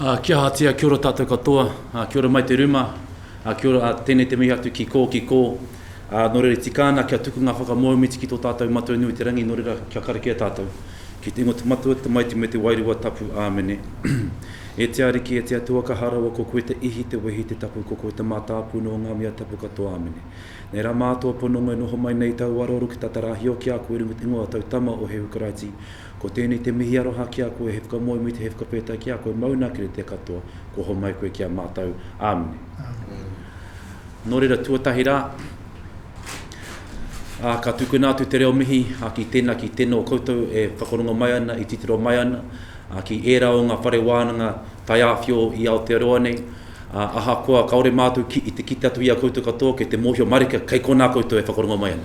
Ah, kia hatia, kia ora tatou katoa. Ah, kia ora mai te ruma. Ah, kia ora, ah, tēnei te mihi atu ki kō, ki kō. Ā, nō reira, tika ana kia tuku ngā whakamōhimiti ki tō tātou Matua nui o te rangi, nō reira, kia karakia tātou. Ki te ingoa o te Matua, te Tamaiti, me te Wairua Tapu. Āmene. E te Ariki, e te Atua, ka hā rawa, ko koe te Ihi, te Wehi, te Tapu, ko koe te Mātāpuna o ngā mea tapu katoa. Āmene. Nei rā mātou e pononga, e noho mai nei tāu araoro ki tā te rā hio ki a koe i runga i te ingoa o tau Tama, o Hēhu Karaiti. Ko tēnei te mihi aroha ki a koe, he whakamōhimiti, he whakawhētai ki a koe, mauna kere te katoa, kua homai koe ki a mātou. Āmene. Āmene. Nō reira tuatahi rā, ā, ka tukuna atu te reo mihi ki tēnā, ki tēnā o koutou e whakarongo mai ana, e titiro mai ana, ā, ki ērā o ngā whare wānanga taiāwhio i Aotearoa nei, ā, ahakoa kāore mātou ki, i te kite atu i a koutou katoa, kei te mōhio mārika kei konā koutou e whakarongo mai ana.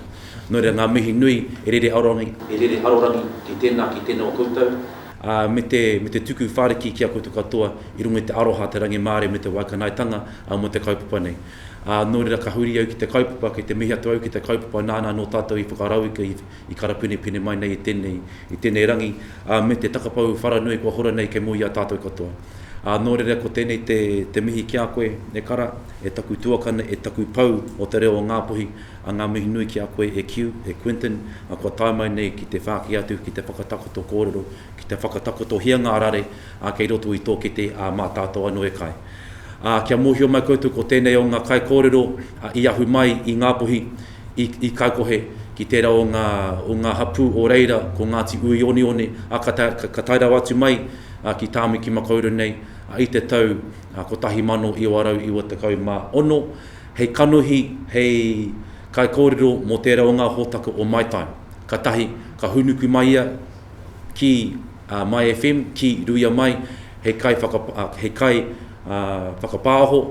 Nō reira, ngā mihi nui, e rere arorangi, e rere arorangi ki tēnā, ki tēnā o koutou. ā, me te, me te tuku whāriki ki a koutou katoa i runga i te aroha, te rangimārie me te waikanaetanga, ā, mō te kaupapa nei. Ā, nō reira ka huri au ki te kaupapa, kei te mihi atu au ki te kaupapa nāna anō tātou i whakarauika, i, i karapinepine mai nei i tēnei, i tēnei rangi, ā, me te takapau wharanui kua hora nei kei mua i a tātou katoa. Ā, nō reira ko tēnei te, te mihi ki a koe, e Kara, e taku tuakana, e taku pou o te reo o Ngāpuhi, A ngā mihi nui ki a koe e Kew, e Quentin, a kua tae mai nei ki te whāki atu ki te whakatakoto kōrero, ki te whakatakotohia ngā rare a kei roto i tō kete a mā tātou anō e kai. A kia mōhio mai koutou ko tēnei o ngā kaikōrero i ahu mai i Ngāpuhi, i, i Kaikohe, ki tērā o ngā, o ngā hapū o reira ko Ngāti Uionioni, a ka tae, ka tae rawa atu mai ki Tāmikimakauru nei i te tau 1996. Hei kanohi, hei kaikōrero mō tērā o ngā hōtaka o My Time. Ka tahi, ka hūnuku mai ia ki a My FM, ki Ruia Mai, hei kai hei kai whakapāho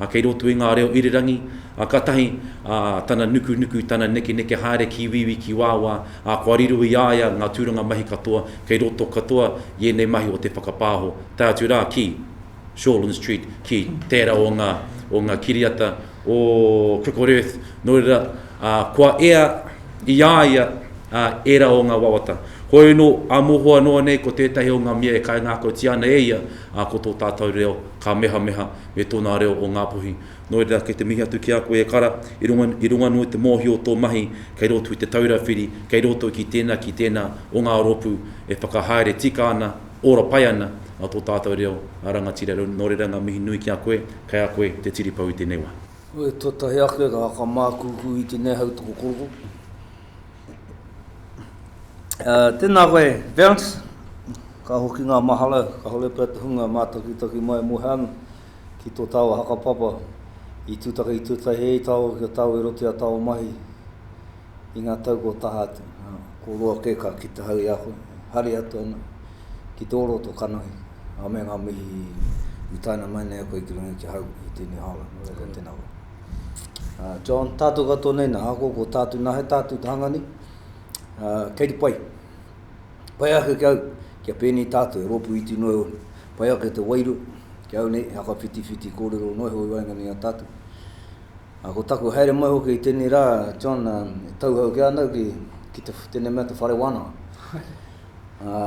kei roto i ngā reo irirangi, ā, ka tahi, ā, tana nukunuku, tana nekeneke haere ki wīwī, ki wāwā, ā, kua riro i a ia ngā tūranga mahi katoa kei roto katoa i ēnei mahi o te whakapāho, tae atu rā ki. Shortland Street, ki tērā o ngā, o ngā kiriata o Crickled Earth, nō reira, ā, kua ea i a ia, ā, ērā o ngā wawata. Hōino, ā mohoa noa nei ko tētahi o ngā mea e kaingākautia ana e ia, ā, ko tō tātou reo, ka mehameha me tōnā reo o Ngāpuhi. Nō reira, kei te mihi atu ki a koe e Kara, i runga, i runga noa i te mōhio o tō mahi kei roto i Te Taura Whiri, kei roto ki tēnā, ki tēnā o ngā rōpū e whakahaere tika ana, Ora pai ana a to tatou reo a rangatira no reira nga mihi nui ki a koe, kai a koe te tiripou i tenei wa. Wai tuatahi ake rā ka mākūkū i tenei hautoko korokoro. Tēnā koe, Bounce! Ka hoki ngā mahara, kāore pea te hunga mātakitaki mai mō Heana ki tō tāua hakapapa i tūtaki tuatahi hei tāua ki a tāua i roto i a tāua mahi. i ngā tau kua taha atu. Ko roa kē ka kite hau i a koe, hari atu ana ki tō rō tō kanohi, a me ngā mihi i taina mai nei a koe ki runga ki hau i tēnei hāora, nō reira, tēnā koe. Uh, John, tātou katoa nei nā hako, ko tātou nā he tātou te hanga ni, uh, kei te pai. Pai ake ki au, kia pēnei tātou, e rōpū iti noa iho nei. Pai ake te wairua, ki au nei, he haka whitiwhiti kōrero noa iho i waenganui a tātou. Ā, ko taku haere mai hoki i tēnei rā, John, ā, e tauhou ake ana au ki, ki te, tēnei mea te whare wānanga. Ā,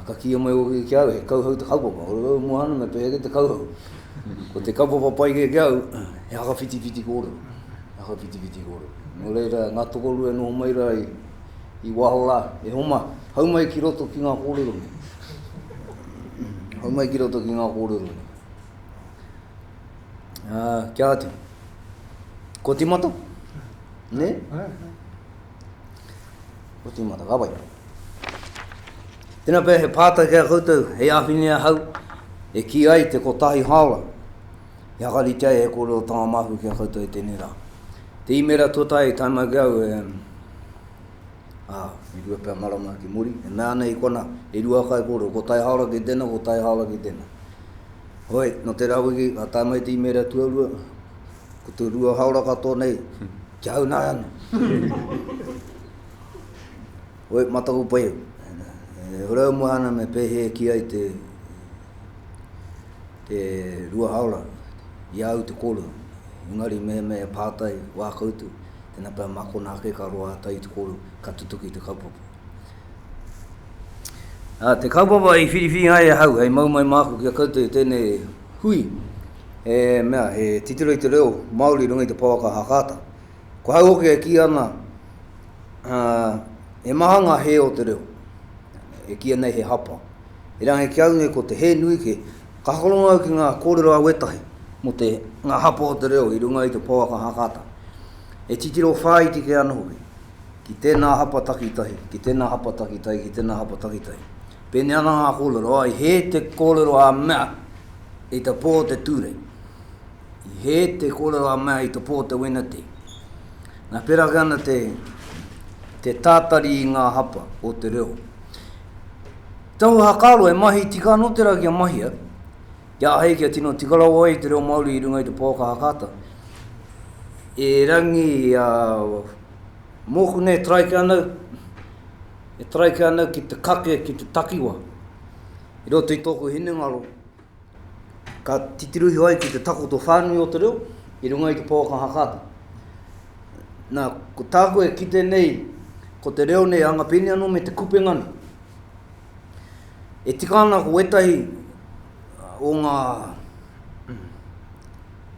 ka kīia mai hoki ki a au, he kauhau te kaupapa. Oru au mua ana, me pēhea kē te kauhau? Ko te kaupapa pai kē ki au, he whakawhitiwhiti kōrero, he whakawhitiwhiti kōrero. Nō reira, ngā tokorua e noho mai rā i, i waho rā, e homa, hau mai ki roto ki ngā kōrero nei. Hau mai ki roto ki ngā kōrero nei. Uh, kia atu. Ko timata? Ne? Ko timata, ka wai. Tēnā pēr he pātai kia koutou, hei āwhine a hau, e ki ai te kotahi haora. He hakarite ai he kore o tanga mahu kia koutou i tēnei rā. Te imera tuatai, tai mai ki au, e... Ah, i rua pēr marama ki muri, e mea ana i kona, e rua kai kore, ko tai haora ki tēnā, ko tai haora ki tēnā. Hoi, nō te rāwiki, ka tae mai te imēra tuarua, ko te rua haora katoa nei, kia haunai ana. Hoi, mā taku pai au. E hora au mua ana me pēhē ki ai te, te rua haora, i a au te kōrero. Engari mehemea e pātai, wā koutou, tēnā pea mā konā ake ka roa ata i te kōrero, ka tutuki te kaupapa. Ā, te kaupapa i whiriwhiri ai ahau hei mau mai māku ki a koutou i tēnei hui, he mea, he titiro i te reo Māori i runga i te pouaka Hakata. Ko ahau hoki e kī ana, ā, he maha ngā hē o te reo, e kīia nei he hapa. Erangi ki a au nei ko te hē nui kē, ka hakarongo au ki ngā kōrero a wētahi mō te, ngā hapa o te reo i runga i te pouaka Hakata. He titiro whāiti kē anō hoki. Ki tēnā hapa takitahi, ki tēnā hapa takitahi, ki tēnā hapa takitahi. Pēnei ana ngā kōrero, ā, i hē te kōrero a mea i te pō o te ture. I hē te kōrero a mea i te pō o te wenatē. Nā, pērā ake ana te, te tātari i ngā hapa o te reo. Tahu hakaaro, e mahi tika anō tērā kia mahia, kia āhei kia tino tika rawa ai te reo Māori i runga i te pouaka hakaata. Erangi a. Mōku nei e taraike ana, e taraike ana ki te kake, ki te takiwa, i roto i tōku hinengaro, ka titiruhia ai ki te takoto whānui o te reo, i runga i te pouaka hakata. Nā, ko tāku e kite nei, ko te reo nei anga pēnei anō me te kupenga nei. E tika ana ko wētahi o ngā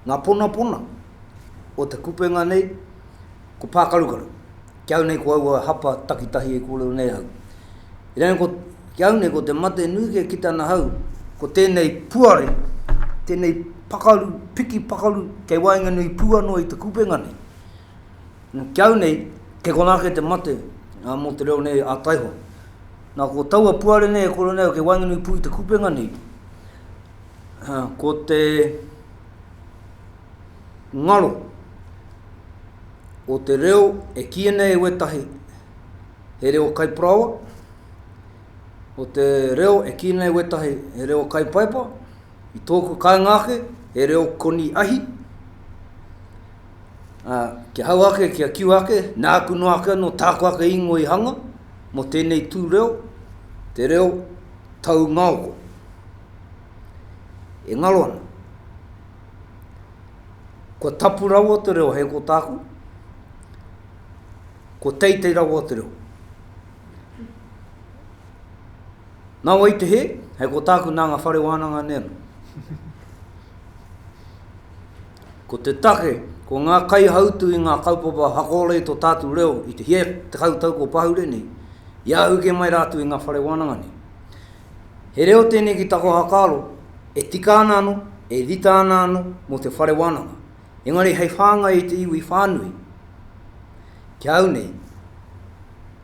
Ngā ponapona o te kupenga nei ko pākarukaru. Ki au nei ko aua hapa takitahi e kōrero nei ahau. Iraia ko, ki au nei ko te mate nui kia kite ana ahau, ko tēnei puare, tēnei pakaru, piki pakaru kei waenganui pū anō i te kupenga nei. Nō ki au nei, kei konā ake te mate ā, mō te reo nei ā taihoa. Nā ko taua puare nei e kōrero nei ahau kei waenganui pū i te kupenga nei, ko te ngaro o te reo e kīia nei e wētahi he reo kaiparaoa, o te reo e kīia nei e wētahi he reo kaipaepa, i tōku kāinga ake, he reo koni ahi, ā, kia hau ake, kia kiu ake, nāku noa ake anō, tāku ake ingoa i hanga, mō tēnei tū reo, te reo taungaoko. E ngaro ana. Kua tapu rawa te reo hei ko tāku, ko teitei rawa te reo. Nā wai te he, hei ko tāku nā ngā whare wānanga nē. Ko te take, ko ngā kaihautu i ngā kaupapa hakoorei to tātu reo i te hia tekau tau kua pahure nei, i ahuke mai rātu i ngā whare wānanga nei. He reo tēnei ki tako hakaaro, e tika ana ano, e rita ana ano mo te whare wānanga, engari hei whāngai i te iwi whānui, kia au nei,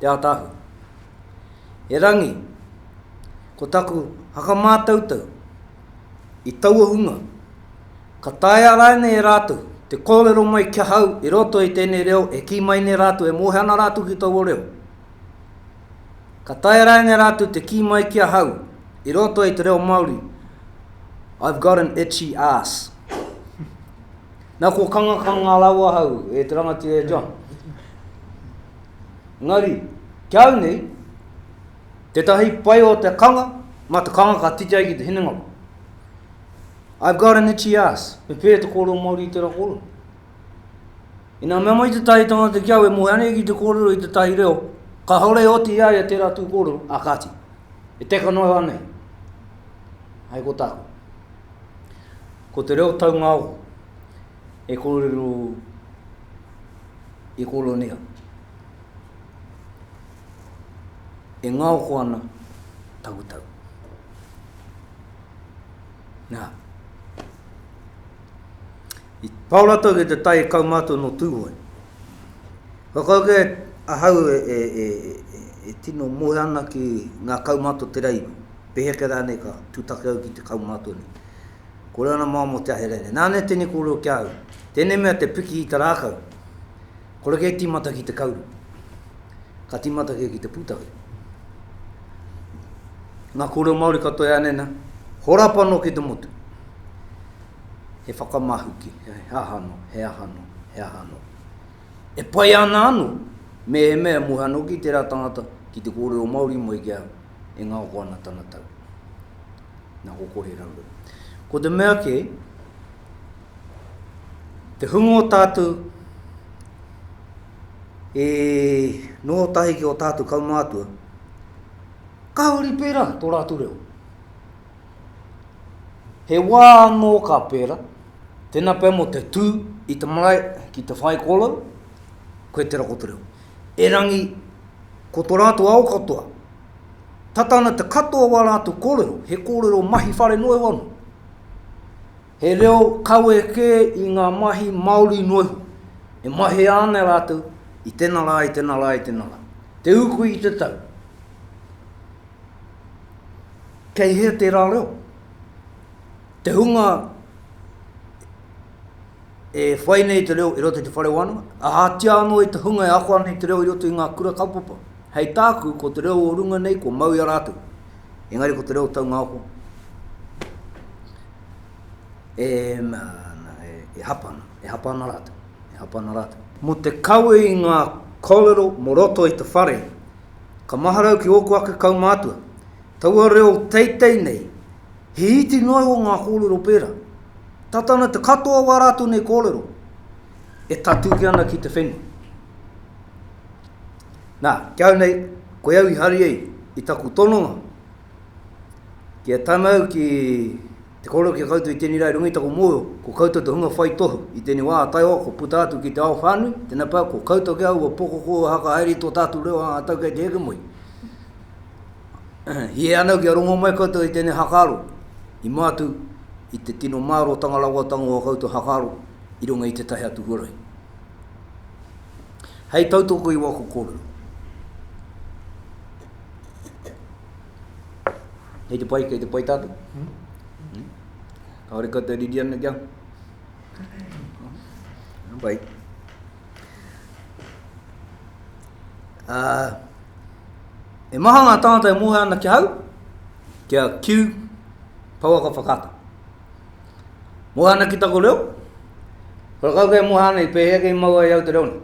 Te Ataahua. E Rangi, ko taku hakamātautau i taua hunga, ka taea rānei e rātou te kōrero mai ki ahau i roto i tēnei reo e kī mai nei rātou e mōhio ana rātou ki taua reo? Ka taea rānei rātou te kī mai ki ahau i roto i te reo Māori I've got an itchy arse. Nā kua kangakanga rāua ahau e te rangatira e John. Engari, ki au nei, tētahi pai o te kanga, mā te kanga ka titi ai ki te hinengaro. I've got an itchy ass. Me pēhea te kōrero Māori i tērā kōrero? Ina mea mai tētahi tangata ki au e moe ana ki te kōrero i tētahi reo, kāore e oti i a ia tērā tū kōrero, ā kāti, e teka noa au anei. Hai ko tāku. Ko te reo taunga ako. e kōrero i Kolonia, e ngaoko ana taku tau. Nā, i pao rātou ki te tai kaumātua nō Tūhoe. Whakauke ahau e, e, e, e, e tino moe ana ki ngā kaumātua te reiwa. Peheke rānei ka tūtake au ki te kaumātua nei. Kore ana mao mo te ahi rere. Nane tene korero ki a au. Tene mea te piki i te rakau. Kore ke timata ki te kauru. Ka timata ke ki te putake. Nga korero Maori katoa e ane na, horapa no ki te motu. He whakamahuki, he aha no, he aha no, he aha no. E pai ana ano, mehemea e mohe ano ki tera tangata ki te korero Maori mai ki a au, e ngaoko ana tana tau. Na ko kore rauru. Ko te mea ke, te hunga o tātou e noho tahi ki o tātou kaumātua, ka huri pērā tō rātou reo. He wā anō ka pērā, tēnā pea mō te tū i te marae ki te whai kōrero, koe te rako te reo. Erangi, ko tō rātou ao katoa, tata ana te katoa o ā rātou kōrero, he kōrero mahi whare noa iho anō. He reo kawe kē i ngā mahi māori noa iho, e mahea ana e rātou i tēnā rā, i tēnā rā, i tēnā rā. Te uku i te tau. Kei hea tērā reo? Te hunga e whai nei te reo i roto i te whare wānanga, ahatia anō i te hunga e ako ana i te reo i roto i ngā kura kaupapa. Hei tāku, ko te reo o runga nei, kua mau i a rātou. Engari ko te reo taungaoko, e, e hapa ana, e hapa ana rātou, e hapa ana rātou. Mō te kawe i ngā kōrero mō roto i te whare, ka maharau ki ōku ake kaumātua, taua reo teitei nei, He iti noa iho ngā kōrero pērā. Tata ana te katoa o ā rātou nei kōrero e tatuki ana ki te whenua. Nā, ki au nei, koe au i hari ai i taku tononga ki a Tamau ki te kōrero ki a koutou i tēnei rā i runga i taku mōhio, ko koutou te hunga whai tohu i tēnei wā ā Taiawa kua puta atu ki te ao whānui, tēnā pea, ko koutou kē aua pokoko e haka haere i tō tātou reo ā-tau kei te hekemoe. Hē anō kia rongo mai koutou i tēnei hakaaro i mā atu i te tino mārōtanga rawatanga o ā koutou hakaaro i runga i tētahi atu huarahi. Hei tautoko i waku kōrero, kei te pai, kei te pai tātou? Kāore koutou riri ana kia? Bai. Uh, e maha ngā tāngata e mōhea ana ki hau, kia kiu pouaka whakata. Mōhea ana ki tako reo, kora kau kei mōhea ana i pēhea kei maua i au te reo nei.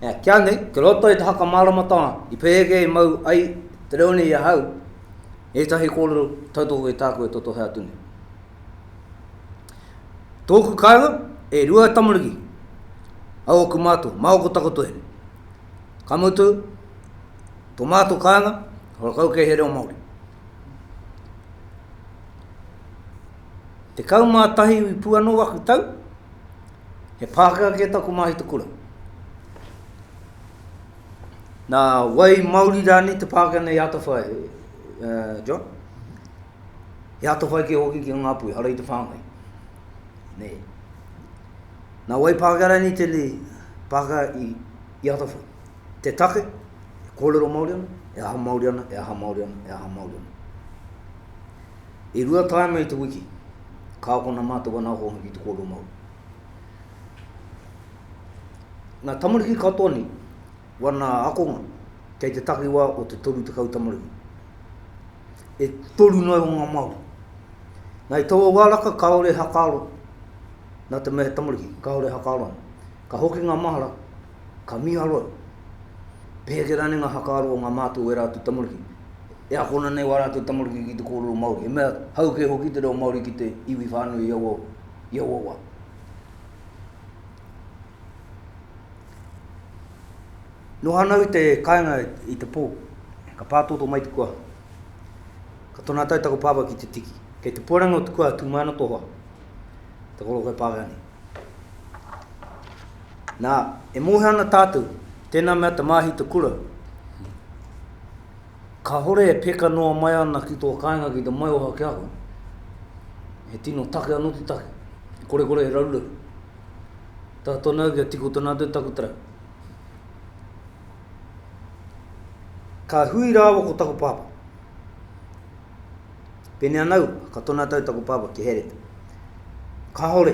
Ea, kia nei, ki roto i te haka māramatanga, i pēhea kei mau ai te reo nei i a hau, e tahi kōrero tautoko i tāku e totohe atu nei. Tōku kāinga, e rua tamariki a ōku mātua, māoko takoto here. Ka mutu, tō mātua kāinga, hora kau kei he reo Māori. Te kau mā tahi i pū anō aku tau, he Pākehā kē taku māhita kura. Nā wai Māori rānei te Pākehā nei Atawhai, John? He ata whaikea hoki ki a Ngāpuhi, ara i te whāngai. Nei. Nā wai Pākehā rānei tēnei Pākehā i, i atawhai? Te take, e kōrero Māori ana, e aha Māori ana, e aha Māori ana, e aha Māori ana. I rua tāima i te wiki, ka akona mātou ana ahonga ki te kōrero Māori. Ngā tamariki katoa nei, Wana akonga, kei te takiwa o te toru tekau tamariki. E toru noa o nga Maori. Nga i taua wa raka kaore hakaaro na te mea he tamariki, kaore hakaaro ana. Ka hoki nga mahara, ka miharo au, peheke rane nga hakaaro o nga matou o era atu tamariki, e akona nei wa ratou tamariki ki te korero Maori, he mea hau ke hoki te reo Maori ki te iwi whanui i aua wa. Noho ana au te kainga i te po, ka patoto mai te kua. Ka tona tau taku papa ki te tiki. Kei te puarangi o te kua tu mai ana to hoa. Te koloka e Pākehā nei. Na, e mohe ana tatou, tena mea te mahi te kura, kahore e peka noa mai ana ki to kainga ki te maioha ki a koe. He tino take ano te take. Korekore he raruraru. Taha tonu au kia tiko tonu atu taku tarau. Ka hui rāua ko taku pāpā. Pēnei ana au, ka tona tau taku pāpā ki Hereta. Kāore,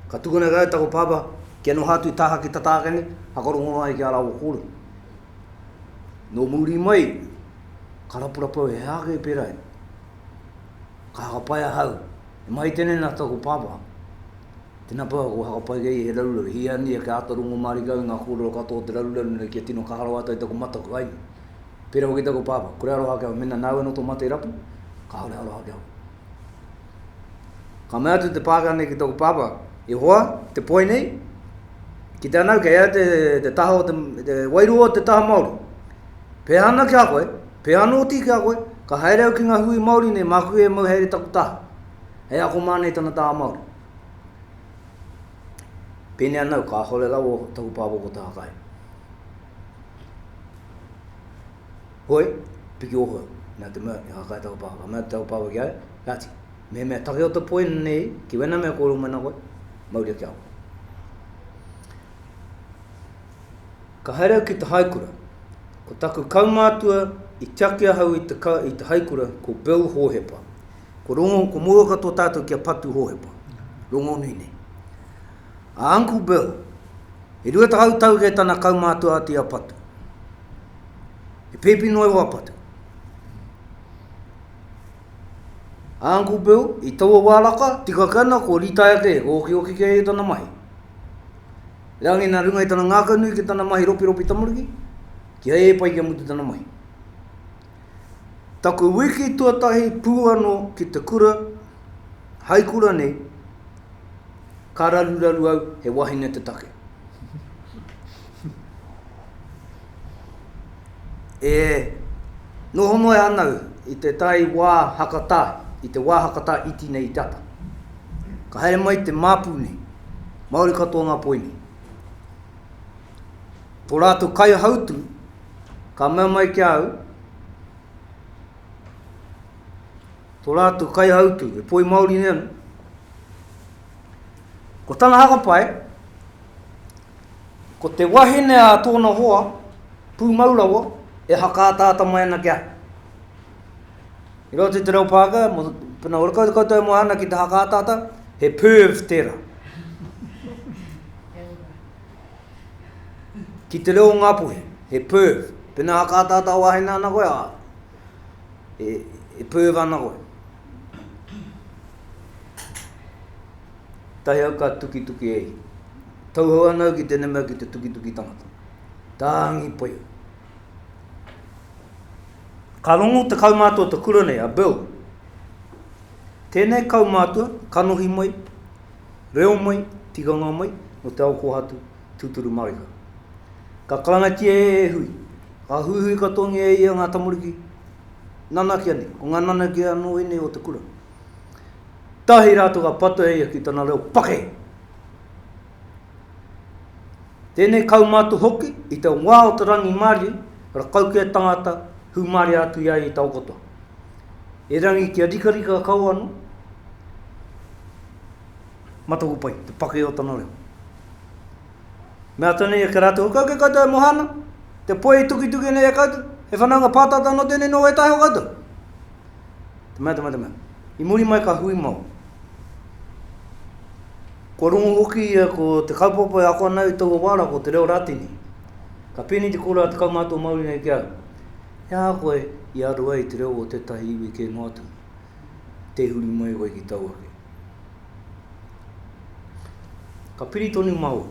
ka tukuna kau taku pāpā kia noho atu i taha ki Tatākene, whakarongo ai ki a rāua kōrero. Nō muri mai, ka rapurapu au he aha kē pērā ia. Ka haka pai ahau, e mahi tēnei nā taku pāpā, Tēnā pea, kua whakapae kei ia he raruraru. Hiahia kia āta rongo mārika au i ngā kōrero katoa o te raruraru nei kia tino kaha rawa atu ai taku mataku, āe nō. Pērā hoki taku pāpā, kore aroha ake au, mēnā nāu anō tō mate rapu, kāore aroha ake au. Ka mea atu te Pākehā nei ki taku pāpā, E hoa, te poi nei, ki te anau, kei a ia te taha o te, te wairua o te taha Māori. Pēhā ana ki a koe, pēhā anō hoki ki a koe, ka haere au ki ngā hui Māori nei māku e mau haere taku taha. Hei ako mā nei tana tā Māori. Pēnei anau, kāhore rawa taku pāpā ko Taha Kai. Hoi, piki ohau, mea te mea, he hākai taku pāpā. Ka mea taku pāpā ki a ia, Nati, mehemea take o te poi nei, ki wena mea kōrero mai nā koe, mauria ki a koe. Ka haere au ki te haikura. Ko taku kaumātua i tiaki ahau i te, i te haikura ko Bill Hōhepa. Ko Rongo, ko Mouaka tō tātou kia patu Hōhepa. Rongonui nei. A Uncle Bill, e rua tahau tau kē tana kaumātua atu i a Patu. He pēpi noa iho a Patu. A Uncle Bill, i taua wā raka, tika ke ana, kua rītaia kē, kua okioki kē ia tana mahi. Rā ngē nā runga i tana ngākau nui ki tana mahi ropiropi tamariki, kia ē pai kia mutu tana mahi. Taku wiki tuatahi pū anō ki te kura, hai kura nei, ka raruraru au he wahine te take. E noho noa ana au i te tai wā hakatā, i te wā hakatā iti nei i te ata. Ka haere mai te māpu nei, Māori katoa ngā poi nei. Tō rātou kaihautū ka mea mai ki a au, tō rātou kaihautū, he poi Māori nei anō, ko tana hakapae, ko te wahine a tōna hoa, pūmau rawa, e hakaataata mai ana ki a. I roto i te reo Pākehā, mo, pena ora koutou, koutou e moe ana ki te hakaataata, he perv tērā. Ki te reo o Ngāpuhi, he perv. Pēnā ha ka ataata wāhine ana koe, ā, e, e perv ana koe. Tahi au ka tukituki e ia. Tauhou ana au ki tēnei mea ki te tukituki tangata. Tāngi pai au. Ka rongo te kaumātua o te kura nei, a Bill. Tēnei kaumātua, kanohi mai, Reo mai, tikanga mai, nō te ao kōhatu, tūturu marika. Ka karangatia e Hui, ka huihui katoangia e ia ngā tamariki, nanakia nei, ko ngā nanakia anō ēnei o te kura. Tahi rātou ka patua e ia ki tana reo pake! Tēnei kaumātua hoki, i te wā o te rangimārie, rakau ki a tangata, hūmārie atu i a ia i taokoto. Erangi kia rikarika kau anō, Mataku pai, te pake o tana reo. Mea tonu ia ki a rātou, Huka ake koutou e moha ana, te poe i tukituki ana i a koutou, he whanaunga pātata anō tēnei nō wētahi o koutou. Te mea, te mea, te mea. I muri mai ka hui mau. Kua rongu hoki ia ko te kaupapa e ako ana i taua wā rā, ko te reo Rātini. Ka pēnei te kōrero a Te Kaumātua Māori nei ki a au, E aha koe i aro ai te reo o tētahi iwi kē noa atu? tē huri mai koe ki tau ake. Ka piri tonu māua,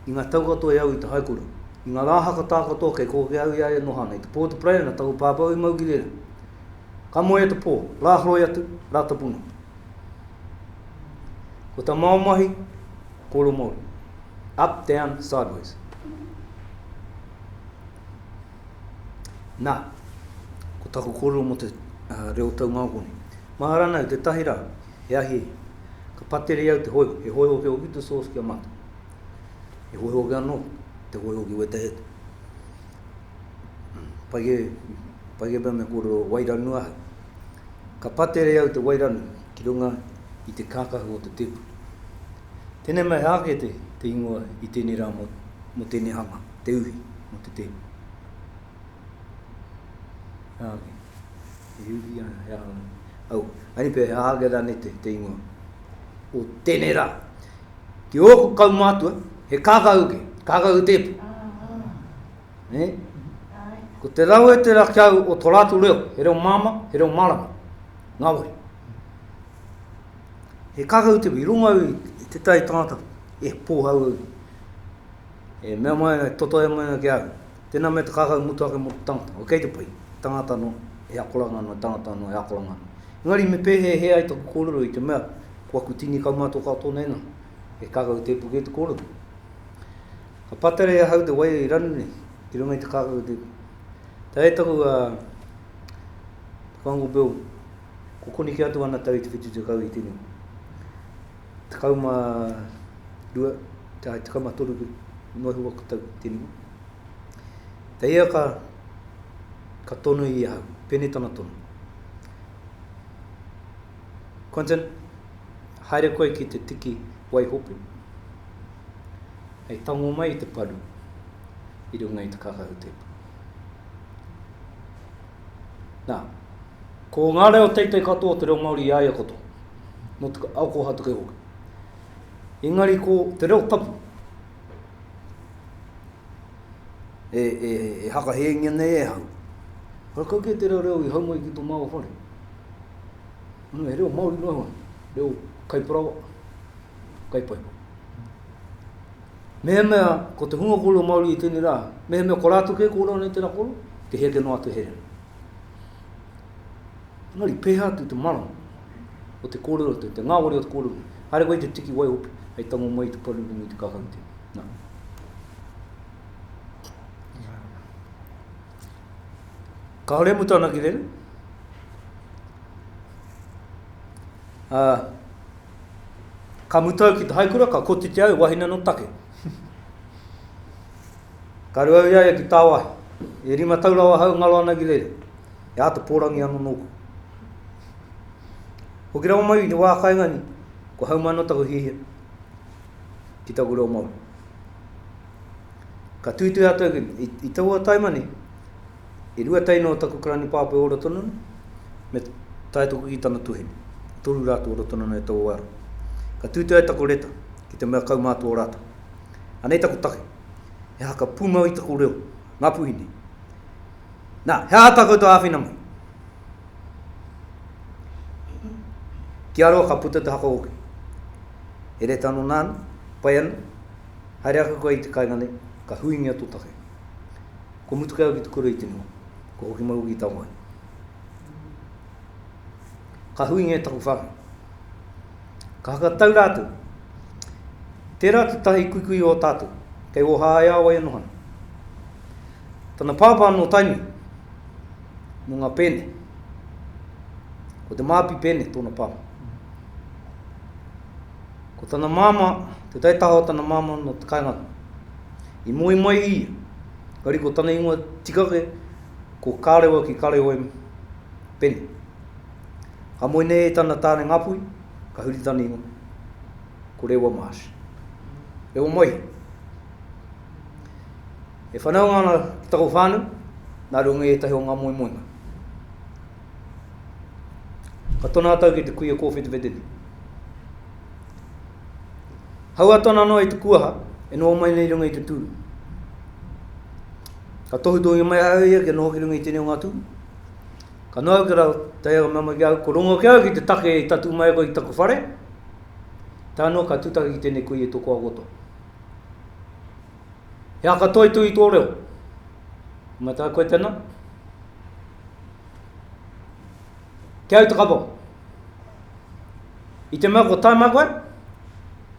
i ngā tau katoa e au i te haikura, i ngā rā haka tā katoa kei kōkia au i a ia noho ana i te pō o te Paraiana taku pāpau i mau ki rēra. Ka moea te pō, rā horoi atu, rā tapuna. Ko tā māua mahi, kōrero Māori. Up, down, sideways. Na, ko taku korero mo te reo taungao nei, Mā ranau tetahi ra, he ahi, ka pateri au te hoiho, he hoiho ki hoki te sauce ki a matou. He hoiho hoki ano te hoiho ki wetahi atu. Pai ke, pai ke mea me korero wairanu ahau. Ka pateri au te wairanu ki runga i te kakahu o te tepuru. Tenei mai he ake te ingoa i tenei ra mo tenei hanga. te uhi mo te tēpu. He aha nei? He uhi ana, he aha nei? Au, ani pē, he aha kera nei te, te ingoa? O tēnei rā, ki ōku kaumātua, he kākau ke, kākau tēpu. Ne? Ko te rau e te rakau o tō rātou reo, he reo māma, he reo mārama, ngā wari. He kākau tēpu, i runga i te tai tātou, e pōhau au. E mea mai ana, e totohea mai ana ki a au, tēnā mea te kākau ngutu ake mō te tangata, o kei te pai, he tangata anō, he akoranga anō, he tangata anō, he akoranga anō. Engari me pēhēhē ai taku kōrero i te mea, ko aku tini kaumātua kau tōna ingoa, he kākau tēpu kē te kōrero. Ka pātere e ahau te wairua i ranu nei, i runga i te kākau tēpu. Tae taku a Te Whango Bill, ko koneki atu ana tau i te whitu tekau i tēnei wā. 12, tae 13 noa iho aku tau te rima. Te ia ka, ka tono i ahau, pēnei tana tono. Quentin, haere koe ki te tiki waihopu, hei tango mai i te paru i runga i te kākahu tēpu. Nā, ko ngā reo teitei katoa o te reo Māori i a ia katoa, nō te ao kōhatu kē hoki. Engari ko te reo tapu, e, e, e hakahēngia nei e hau. Rakau kē tērā reo i hau mai ki tō māua whare. Anō, he reo Māori noa iho, reo kaiparawa, kai poipo. Mehemea ko te hunga kōrero Māori i tēnei rā, mehemea ko rātou kē kōrero nei tērā kōrero, te heake noa atu here. Engari, pēhea atu te marama o te kōrero atu, te ngāwari o te kōrero nei. Haere koe te tiki wai hoki, hei tango mai te paru rungu i te kākahu tēnei. Nā. Ka hore mu tāna ki rere. Uh, Ka mutu au ki te haikura, ka kotiti au e wahine no take. Ka reo au i a ia ki tāwahi, e rima tau rawa ahau e ngaro ana ki reira, e āta pōrangi ano nōku. Hoki rawa mai i te wā kainga ni, kua hau mai no taku hiahia ki taku reo Māori. Ka tuitui atu au ki, i, i taua taima ni, E rua tau noa taku karani pāpoi ora tonu ana, me tae toku ki tana tuhine. E toru rā tu ora tonu ana e tau o Aaron. Ka tūtū ai taku reta, ki te mea kaumātua o rātou. Anei taku take, he haka pūmau i taku reo, ngā puhine. Nā, he aha tā koutou āwhina mai? Ki a roa ka puta te haka hoki. He reta anō nāna, pai ana, haere ake koe i te kainga nei, ka huingia tō take. Ko Mutukeau ki Tukura i te noho, ko Hokimaru ki Taoani. Ka huinga e taku whānau. Ka hakatau rātou. Tērā te taha i kuikui o tātou, kei Ōhāeāwai anō hana. Tana pāpā nō Tainui, nō ngā Pēne. Ko Te Māpi Pēne tōna pāmu. Ko tana māmā, te taitaha o tana māmā nō te kāinga rā. I moe mai ia, engari ko tana ingoa tikake ko Karewa ki Kareoem Pene. Ka moe nei e tana tāne Ngāpuhi, ka huri tana ingoa, ko Rewa Marsh. Rewa Moihi. E whanaunga ana ki taku whānau, nā runga i ētahi o ngā moemoenga. Ka tona a tau ki te kuia kōwhetewhetene. Hau a tona noa i te kuaha, e noho mai nei runga i te tūru. Ka tohutohungia mai a ia kia noho ki runga i tēnei o ngā tūru. Ka noa au ki rau, tae au mea mai ki au, ko rongo ki au ki te take i tatū mai koe i taku whare, tae noa ka tūtaki ki tēnei kuia i tō koa roto. He aha katoa i tū i tō reo? Mā tā koe tēnā? Te Autakapo. I te mea ko Tama koe,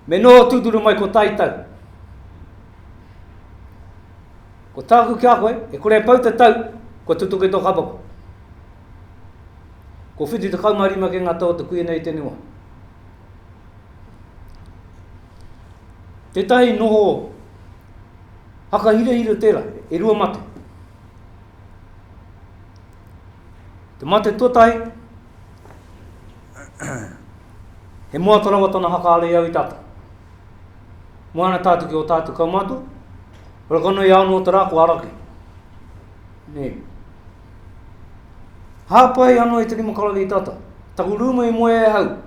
me noho tūturu mai ko tai tau. Ko tāku ki a koe, e kore e pau te tau, kua tutuki tō kapa koe. Ko whitu te kaumarima ke ngā tau o te kuia nei i tēnei wā. Tētahi noho haka hirahira tērā, e rua mate. Te mate tuatahi, he moata rawa tana hakaarei au i tata. Moana tatu ki o tatu kaumatu, rakanoi ao no te ra ko araki. Ne. Hapai ano i te rima karawe i tata. Taku ruma i moe e hau.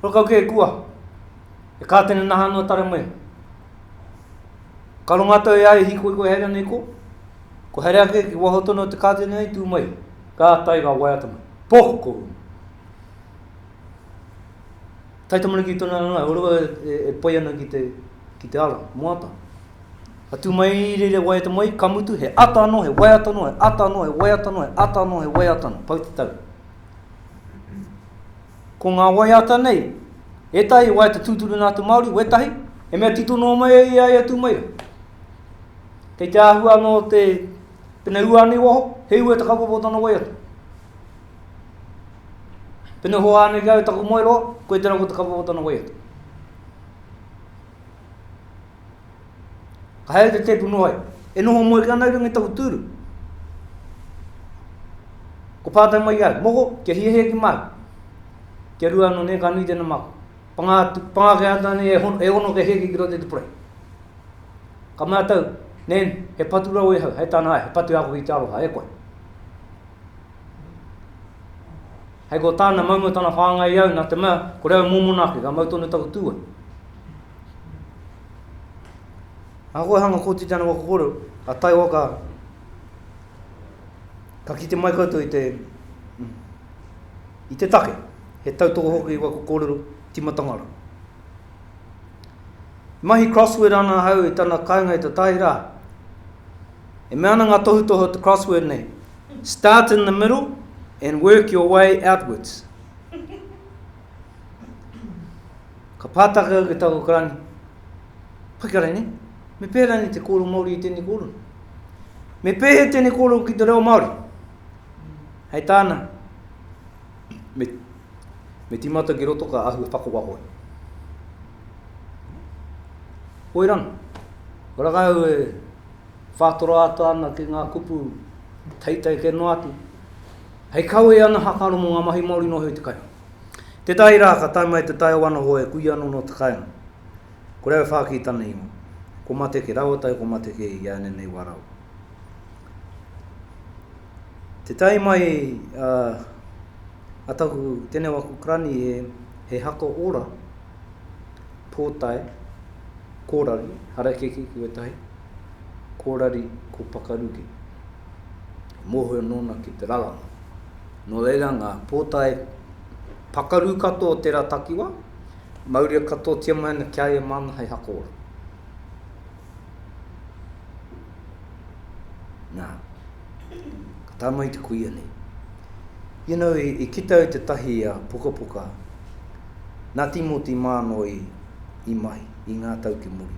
Rakau ke kua. E ka tena naha no tare mai. Ka rongo atu ai a Ihi, Koe ko Herea nei ko? Ko Herea kē, ki waho tonu o te kāti nei, tū mai. Ka tae, ka waiata mai. Poh! Ko ūna. Taitamariki tonu anō a Urua e pai ana ki te, ki te ara, moata. Ka tū mai i reira e waiata mai, ka mutu, he ata anō, he waiata anō, he ata anō, he waiata anō, he ata anō, he waiata anō. Pau te tau. Ko ngā waiata nei, ētahi waiata tūturu nā te Māori, wētahi, he mea tito noa mai ai i a ia tū mai rā. Kei te āhua anō te, pēnei ua ana i waho, he ua te kaupapa o tana waiata. Pēnei hoa ana ki au taku moe roa, koe tērā ko te kaupapa o tana waiata. Ka haere te teipu noa iho. E noho moeke ana i runga i taku tūru. Ko pātai mai i a au, Moko, kia hiahia ki māku? Kia rua anō nei, ka nui tēnā māku. Pangā atu, pangā kē atu anei e, e ono kia hiahia ki roto i te purei. Ka mea tau, Nan, he patu rawa i ahau, hei tāna, Ae, he patu e ako ki te aroha, e koe. Hei ko tāna, maumau tana whāngai i au, nā te mea, kore au mōmona ake, ka mau tonu taku tūai. Ngā kōhanga kōtiti ana waka kōrero, a Taiwaka, ka kite mai koutou i te, i te take, he tautoko hoki i waku kōrero timatanga rā. E mahi crossword ana ahau i tana kainga i te tai rā. E mea ana ngā tohutohu o te crossword nei, start in the middle and work your way outwards. Ka pātake au ki tāku karani, Pai ka rānei, me pēhea rānei te kōrero Māori i tēnei kōrero? Me pēhea tēnei kōrero ki te reo Māori? Hei tāna, me, me tīmata ki roto ka ahu e whakawaho ai. Hoi rā, ko rā kāu e whātoro ata ana ki ngā kupu teitei kē noa atu, hei kawe ana hakaro mō ngā mahi Māori noa iho i te kairangi. Tētahi rā ka tae mai te taiao anō e kui anō nō te kāinga. Ko Rewe Whākī tana ingoa. Ko Mateke rawa tau ko Mateke i a ēnei wā rawa. Te tae mai a a taku teneo a Kukrani he he haka ora, pōtae, kōrari, harakeke ki wētahi, kōrari ko Pakaruke. Mōhio nōna ki te raranga. Nō reira ngā pōtae pakaru katoa o tērā takiwā, mauria katoatia mai ana ki a ia māna hei haka ora. Nā, ka tae mai te kuia nei. You know, i, i kita au tētahi uh, pukapuka, nā Tīmoti Mānoe i, i mahi, i ngā tau ki muri.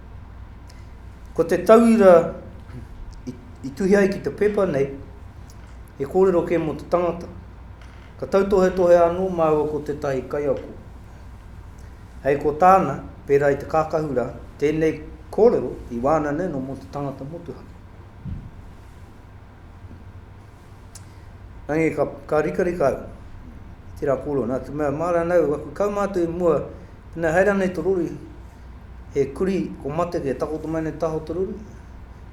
Ko te tauira i tuhi ai ki te pepa nei, he kōrero kē mō te tangata. Ka tautohetohe anō māua ko tētahi kaiako. Hei ko tāna, pērā i te kākahu rā, tēnei kōrero i wānanaina mō te tangata motuhake. Engari ka, ka rikarika au, tērā kōrero, nā te mea, mā rānau, aku kau mātou i mua, pēnā haere ana i te rori, he kurī, kua mate koe, e takoto mai ana i te taha o te rori,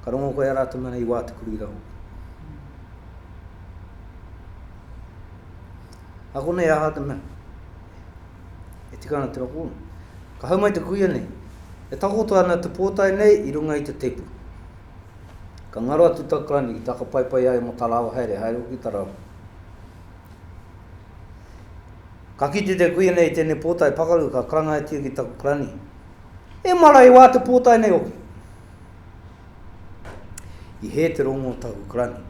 ka rongo koe i a rātou mea nei i wā te kurī rā hoki. A konei aha te mea, e tika ana tērā kōrero. Ka hau mai te kuia nei, e takoto ana te pōtae nei i runga i te tēpu. Ka ngaro atu tau karani ki taka paipai ai mo ta lawa haere, haere hoki ta rawa. Ka kite te kuia nei i tenei potai pakaru ka karangaetia ki taku karani, E mara he wa te potai nei hoki. I he te rongo o taku karani,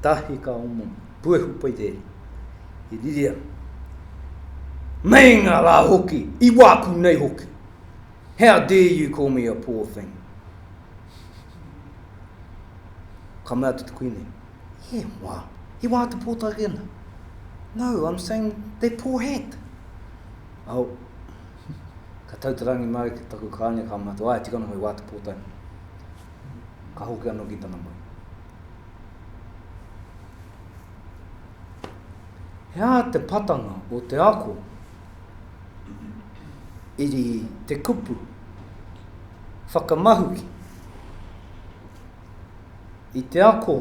tahi ka omomo, puehu pai te ere. I riri ana. Meinga la hoki, i waku nei hoki. How dare you call me a poor thing? Ka mea atu te Kuini, He wā, he wā te pōtake ana. No, I'm saying they're poor hat. Au, ka tau te rangi māu ki taku kāne ka mea atu, Āe, tika noa he wā te pōtake. Ka hoki anō ki tana maru. He aha te patanga o te ako? iri te kupu whakamahuki i te ako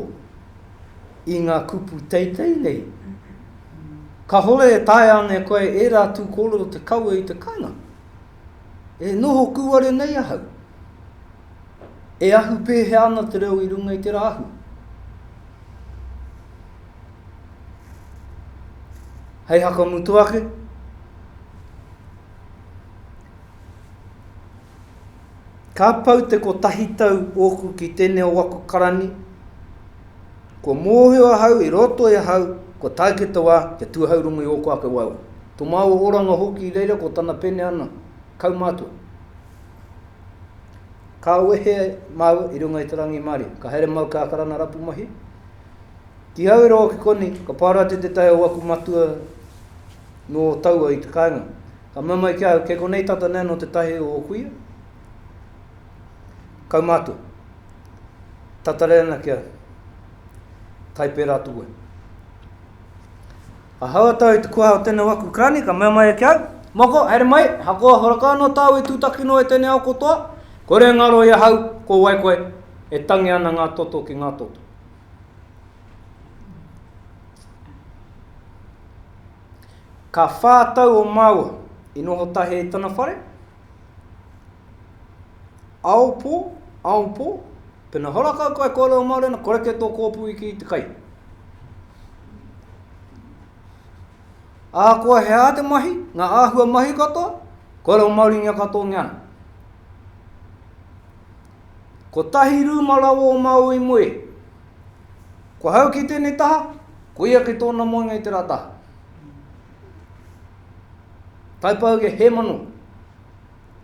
i ngā kupu teitei nei. Kahore e tae ane koe e rā tū kōrero te kawe i te kainga. E noho kūare nei ahau. E ahu pēhea ana te reo i runga i te rāhui? Hei whakamutu ake, Ka pau te kotahi tau ōku ki tēnei o aku karani, kua mōhio ahau i roto i ahau kua tae ki te wā kia tūhaurongo i ōku ake waewae, tō māua oranga hoki i reira ko tana pēne ana, kaumātua. Ka wehe māua i runga i te rangi mārie. Ka haere māu kā karana rapu mahi. Ki au e rongo ki konei, ka pārā te te tae o aku matua nō taua i te kāinga. Ka mea mai ki au, kei konei tata nē nō te tahi o kuia? Kaumātua. Tatare ana ki au. Kai pērā atu wai. Ahaua tau i te kuaha o tēnei waku karani, ka mea mai ia ki au, Moko, haere mai, ahakoa horaka anō tāu e tūtaki noa i tēnei ao katoa, kore e ngaro i ahau, ko wai koe, e tangi ana ngā toto ki ngā toto. Ka whā tau o māua i noho tahi i tana whare, Aopo, aopo, pena hora kau koe kōrero Māori ana, koreke tō kōpū i kī te kai. Ahakoa he aha te mahi, ngā āhua mahi katoa, kōrero Māoringia katoangia ana. Ko tahi rūma rawa o Māui moe. Ko hau ki tēnei taha, ko ia ki tōna moenga i tērā taha. Taipauge hemano,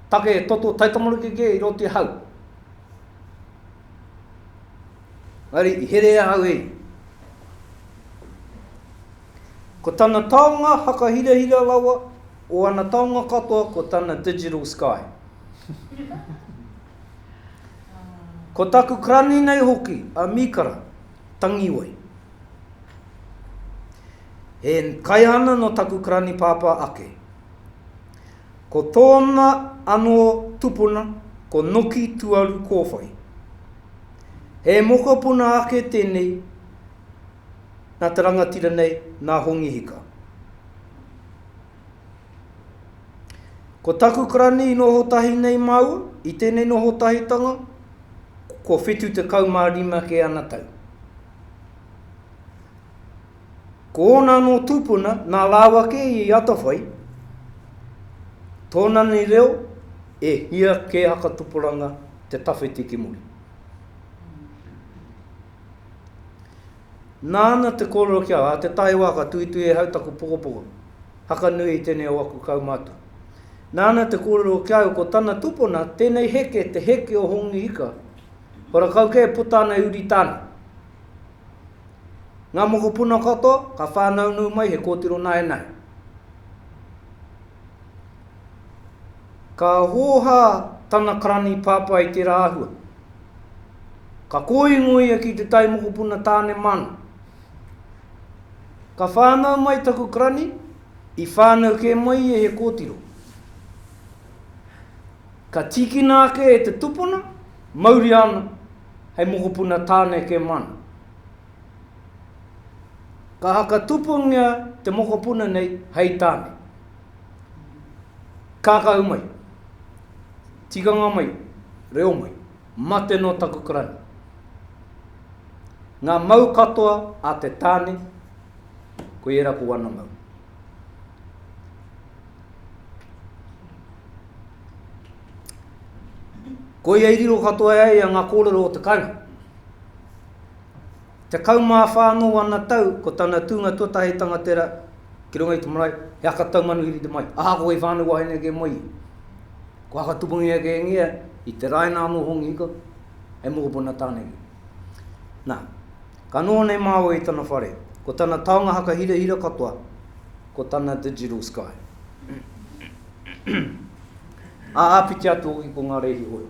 take e toto taitamariki ke i roto i ahau. Engari i here e ahau e ia. Ko tana taonga hakahirahira rawa o ana taonga katoa ko tana digital sky. Ko taku karani nei hoki a Mikara, Tangi wai. E kai ana no taku karani pāpā ake. Ko tōna ano tupuna ko Noki Tuaru Kōwhai. He mokopuna ake tēnei na te rangatira nei, na Hongi Hika. Ko taku karani i noho tahi nei māua, i tēnei noho tahitanga, kua 75 kē ana tau. Ko ōna anō tūpuna, nā rāua kē i atawhai, tōna nei reo, e hia kē haka tupuranga te tawhiti ki muri. Nāna te kōrero ki a, a te taewa ka tuitui e hau taku pokopoko, haka nui i tēnei o aku kaumātua. Nāna te kōrero ki a au ko tana tupona tēnei heke te heke o Hongi Ika, ko rakau kē e puta ana e uri tāna. Ngā mokopuna katoa ka whānaunau mai he kōtiro naenae. Ka hōhā tana karani pāpā i tērā āhua. Ka kōingo ia ki te tai mokopuna tāne māna. Ka whānau mai taku karani, i whānau kē mai ia he kōtiro. Ka tīkina ake e te tupuna, mauria ana hei mokopuna tāne kē māna. Ka haka tupungia te mokopuna nei hei tāne. Kākahu mai. Tikanga mai. Reo mai. Mate nō taku karani. Ngā mau katoa a te tāne, koe ērā ko ana mau. Koia i riro katoa e ia ngā kōrero o te kainga. Tekau mā whā anō ana tau ko tana tūnga tuatahi hei tangatera ki runga i te marae, he aka taumanuhiri te mai, ahakoa i whānau wahine ake mai ia. Ko aka tupungi ake e ngia, i te raina anō hongi hiko, hei mokopuna tāne ia. Nā, ka noho nei māua i tana whare, ko tana taonga haka hirahira katoa, ko tana digital sky. Ā, āpiti atu hoki ko ngā rēhi hoi.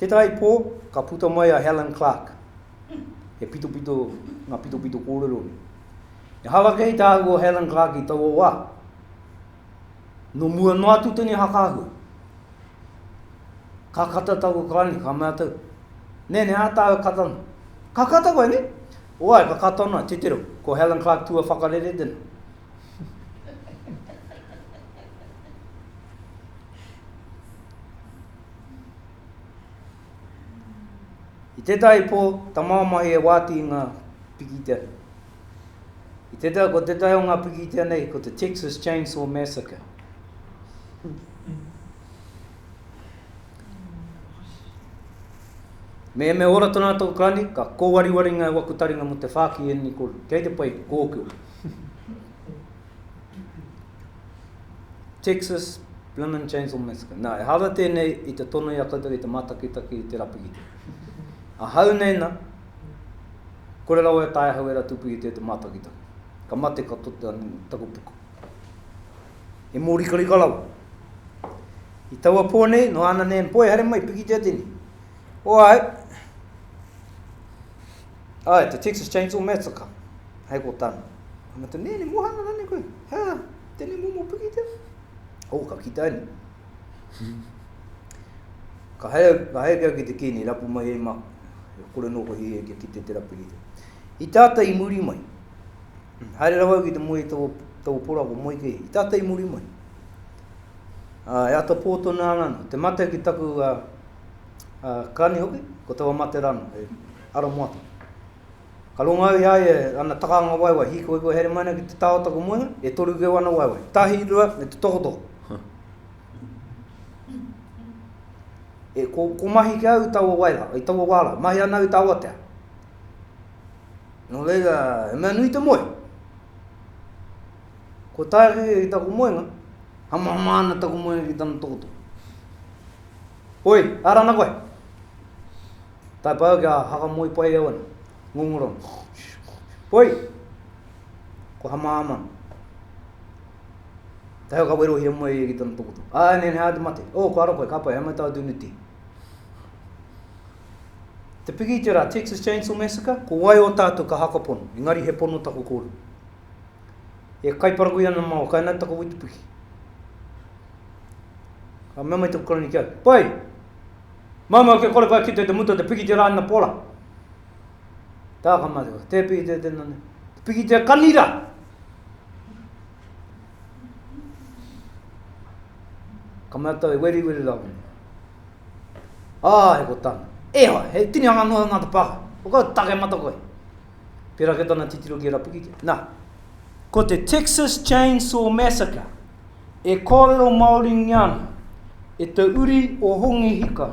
Tētahi pō, ka puta mai a Helen Clark. He pitopito ngā pitopito kōrero nei. Ehara kei te ahu o Helen Clark i taua wā. Nō mua noa atu tēnei hakaahua. Ka kata taku kāne, ka mea tau, Nē, nē, ā tāu e kata ana. Ka kata koe, nē? Oai, ka kata ana, titiro. Ko Helen Clark tua whakarere tēnā. I tētahi pō, tamāmahi e wāti i ngā pikitia nei. I tētahi, ko tētahi o ngā pikitia nei, ko te Texas Chainsaw Massacre. Me me ora tona tō Kani, ka kōwariwari ngā waku taringa mo te whāki i ēnei kōrero. Kei te pai kōkua. Texas Blimmin' Chainsaw Massacre. Nā, e hāra tēnei i te tono i a koutou i te mātakitaki i te rapigite. Ahau nei nā, kore rawa e tae ahau e ratu pū i te te mātakitaki. Ka mate ka tote anu taku puku. He mōrikarika rawa. I taua pō nei, noa ana nei, poi haere mai, pikitia tēnei. O ai, ai, te Texas Chainsaw Massacre, hei ko tāna. Ana tu, nē, ne mohana rane koe. Hea, tēnei momo pikitia. O, ka kita ane. Ka hea, ka hea kia ki te kēnei, rapu mai hei mā. Kore nō koe hei kia ki te te rapu ki te. I tātai i muri mai. Haere rawa au ki te moe i tō, tō pora ko Moikehi, i tātou i muri mai. Ā, e ata pō tonu ana anō, te mate ki taku, ā, ā, kani hoki, ko taua mate rā anō, he ara moa tonu. Ka rongo au i a ia, ana takanga waewae, hīkoi kua haere mai ana ki te tā o taku moenga, e toru keu ana waewae, tahi, rua, me te tokotoko. E, ko, ko mahi ki au i taua wai rā, i taua wā rā, mahi ana au i te awatea. Nō reira, he mea nui te moe. Kua tae ake ia ki taku moenga, hamahama ana taku moenga ki tana tokotoko. Oi, ara ana koe. Tai pai au kia hakamoe pai au ana. Ngongoro ana. Oi, kua hamahama ana. Te hau ka werohia mai ia ki tana tokotoko. Ā, nē, nē, ā te mate. Ō, kua ara koe, ka pai, hei mai tāu tūneti. Te piki i te rā, Texas Chainsaw Massacre, ko wai o tātou ka haka pono, engari he pono taku kōrero. E kaiparakui ana māua, kai nā taku witupiki. Ka mea mai taku karani ki au, pai, māmā kia kore kai kite te muta te piki te rā ina pora. Tā ka mā te kore, te piki te tēnā nei, te piki te kani rā. Ka mea tau, e weri weri rā wani. Āe, ko tāna. E ai, he tinihanga noa o Ngāti Pākaka. Ko kau, take mata koe. Pērā kē tana titiro ki a Rapikitea. Nā, ko te Texas Chainsaw Massacre e kōrero Māoringia ana e te uri o Hongi Hika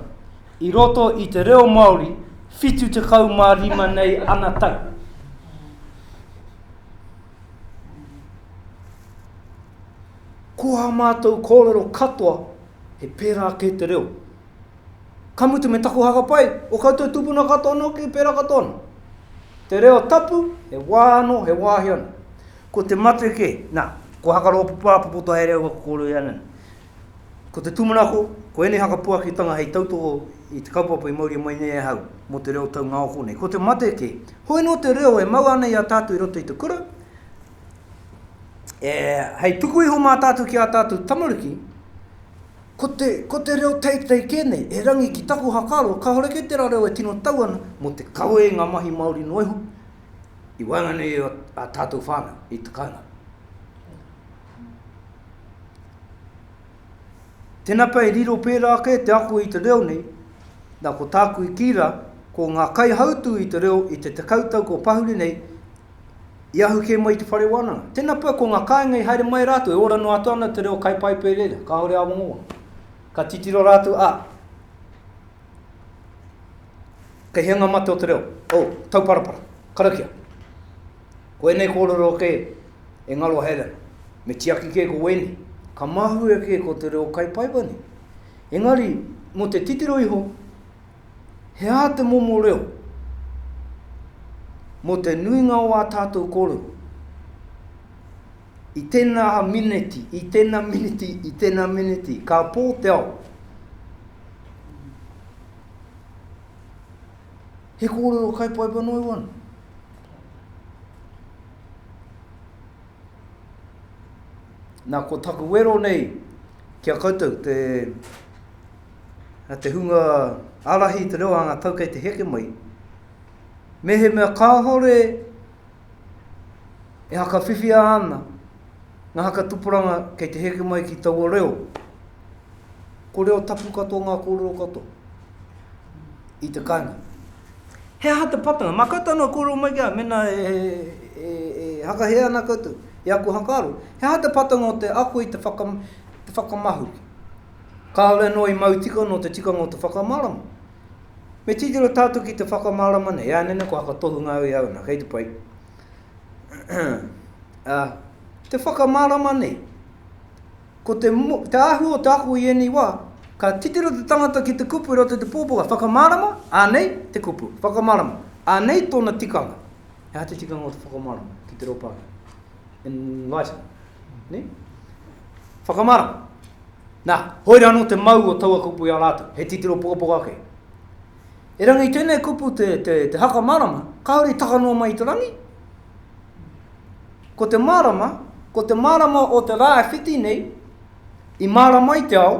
i roto i te reo Māori 75 nei ana tau. Ko ā mātou kōrero katoa, he pērā kē te reo. Ka mutu me taku haka pai, o koutou tupuna katoa anō kē, pērā katoa anō. Te reo tapu, he wā anō, he wāhi anō. Ko te mate kē, nā, ko haka rōpu pāpopoto haere au aku kōrero i a Nana. Ko te tūmanako, ko ēnei haka puakitanga hei tautoko i te kaupapa i mauria mai nei ahau mō te reo taungaoko nei. Ko te mate kē, hoi nō te reo e mau ana i a tātou i roto i te kura, e, hei tuku iho mā tātou ki ā tātou tamariki, ko te, ko te reo teitei kē nei, e rangi ki taku hakaro, kāore kē tērā reo e tino tau ana, mō te kawe i ngā mahi Māori noa iho, i waenganui i a tātou whānau, i te kāinga. Tēnā pea e riro pērā kē te ako i te reo nei, nā ko tāku i kī rā, ko ngā kaihautū i te reo i te tekau tau kua pahuri nei, I ahu kē mai i te whare wānanga. Tēnā pea ko ngā kāinga i haere mai rātou, e ora noa atu ana te reo kaipaipai reira, kāore āwangawanga. Ka titiro rātou, ā, kei hea ngā mate o te reo, o, tauparapara, karakia. Ko ēnei kōrero kē e ngaro haere ana, me tiaki kē ko wēnei, ka mahue kē ko te reo kaipaipai nei. Engari, mō te titiro iho, He aha te momo reo mō te nuinga o ā tātou kōrero? I tēnā mineti, i tēnā mineti, i tēnā mineti, ka pō te ao. He kōrero kai paipa noi wana. Nā, ko taku wero nei ki a koutou, te Na te hunga arahi i te reo anga tau kei te heke mai, mehemea kahore e hakawhiwhia ana nga haka tuporanga kei te heke mai ki taua reo, ko reo tapu katoa nga korero katoa i te kainga. He aha te patanga? Ma koutou anō korero mai ki a au, mena e hakahea ana koutou i aku hakaaro, he aha te patanga o te ako i te whakamahuki? Kāore noa i mau tika nō te tikanga o te whakamārama. Me titiro tātou ki te whakamārama nei, ānene kua hakatohunga au i a au nā, kei te pai. Ā, te whakamārama nei, ko te, te āhua o te ako i ēnei wā, ka titiro te tangata ki te kupu i roto i te pōpoka, whakamārama, ānei te kupu, whakamārama, ānei tōna tikanga. He aha te tikanga o te whakamārama ki te reo Pākehā? Enlighten, nē? Whakamārama. Nā, hoi rā anō te mau o taua kupu i a rātou, he titiro pukapuka ake. Erangi i tēnei kupu te, te, te haka marama, kāore i taka noa mai i te rangi. Ko te marama, ko te marama o te rā e whiti nei, i marama ai te ao,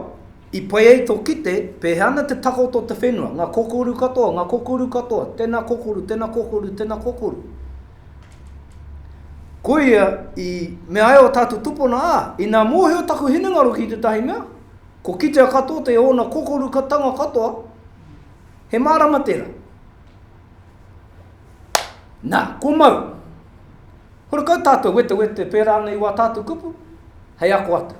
i pai ai tō kite, pēhea ana te takoto o te whenua, ngā kokoru katoa, ngā kokoru katoa, tēnā kokoru, tēnā kokoru, tēnā kokoru. Koia i mea ai o tātou tupuna, ā, ina mōhio taku hinengaro ki tētahi mea, kua kitea katoa te ōna kokorukatanga katoa, he mārama tērā. Nā, kua mau. Horekau tātou wetewete pērā nei i wā tātou kupu, hei ako atu.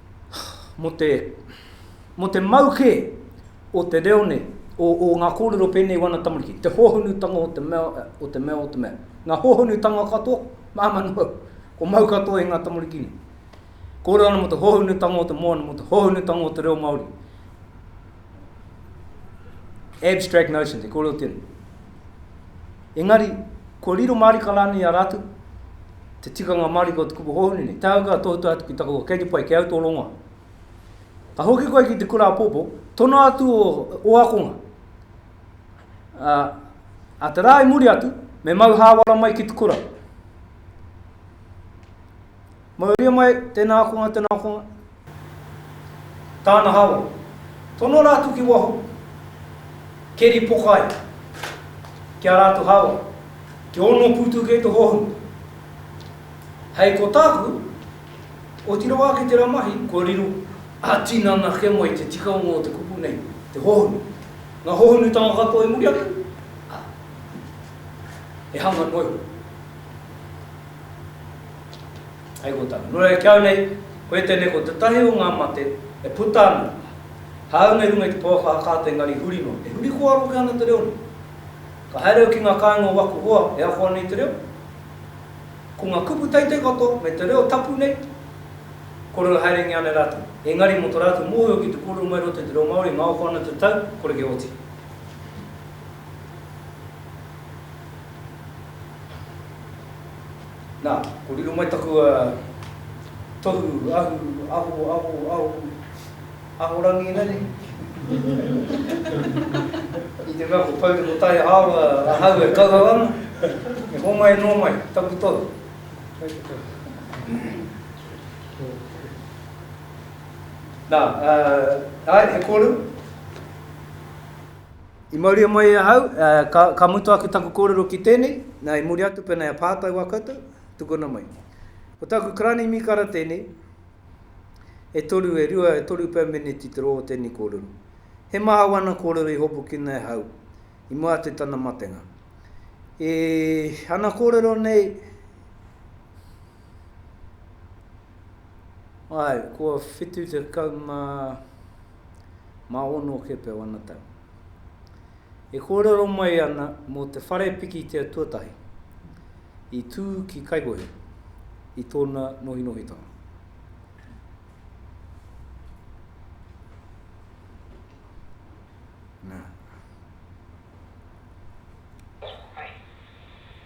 mō te, mō te mau kē o te reo nei, o, o ngā kōrero pēnei i wana tamariki, te hōhonutanga o te mea, o te mea, o te mea. Ngā hōhonutanga katoa, māmā noa, ko mau katoa i ngā tamariki nei. Kōrero ana mō te hōhonutanga o te moana, mō te hōhonutanga o te reo Māori. Abstract notions, e kōrero tēnei. Engari, kua riro mārika rānei i a rātou, te tikanga mārika o te kupu hōhonu nei, tāu ka tohutohu atu ki taku kei te pai, kei au tō rongoa. Ka hoki koe ki te kura apopo, tono atu o, o akonga. A, a te rā i muri atu, me mau hāwara mai ki te kura. Mauria mai, tēnā ākonga, tēnā ākonga. Tāna hāwau. Tono rātou ki waho, keri poka ai ki ā rātou hāwau, kia ono pūtu kē te hohonu. Hei ko tāku, otirā wā ki tērā mahi, kua riro ā-tinana kē mai te tikanga o te kupu nei, te hohonu. Ngā hohonutanga katoa i muri ake, ā, he hanga noa iho. Hei kōtana, nō reira ki au nei, koe tēnei ko tētahi o ngā mate e puta ana, hāunga i runga i te pouaka hakaata engari huri noa. E huri kōaro hoki ana te reo nei. Ka haere au ki ngā kāinga o waku hoa e ako ana i te reo, ko ngā kupu teitei katoa me te reo tapu nei, kore e haerengia ana e rātou. Engari mō tō rātou mōhio ki te kōrero mai i roto i te reo Māori, ngaoko ana te tau, kore kia oti. Nā, ko riro mai taku tohu ahu, aho, aho, aho, ahorangi ina nei. I te mea ko Pourepo Taihaoa ahau e kauhau ana, me homai noa mai taku tohu. Nā, āe, he kōrero. I mauria mai e ahau, ka, ka mutu ake taku kōrero ki tēnei, nā, i muri atu pēnā e pātai wā koutou, tukuna mai. Ko tāku karani mīkara tēnei, e toru, e rua, e toru pea meneti te roa o tēnei kōrero. He maha wana kōrero i hopukina e ahau, i mua atu i tana matenga. E, ana kōrero nei, Ae, kua whitu tekau ma, ma ono kepe wana tau. E kōrero mai ana mō te whare pikitia tuatahi i tū ki Kaikohe i tōna nohinohitanga. Nā.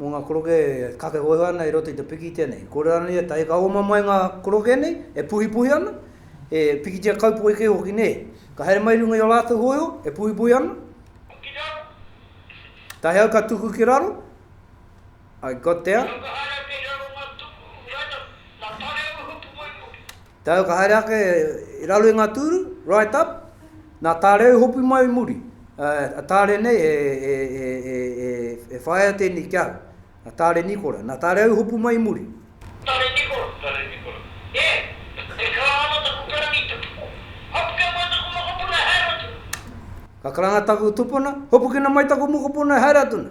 mō ngā koroke e kakehoehoe ana i roto i te pikitia nei. Kōrero ana ia, tae ka oma mai ngā koroke nei, e puhipuhi ana, he pikitia kaupoi kē hoki, nē. Ka haere mai i runga i ō rātou hōiho, e puhipuhi ana, tae au ka tuku ki raro, I got there. Tae ka haere ake i raro i ngā tūru, right up, nā Tāreo i hopu mai i muri, a Tāre nei e whaea tēnei ki ahau, a Tāre Nikora, nā Tāreo i hopu mai i muri. Tāre Nikora. Tāre Nikora. E! E karanga ana taku karangitanga. Hopukina mai taku mokopuna e haere atu na. Ka karanga taku tupuna, hopukina mai taku mokopuna e haere atu na.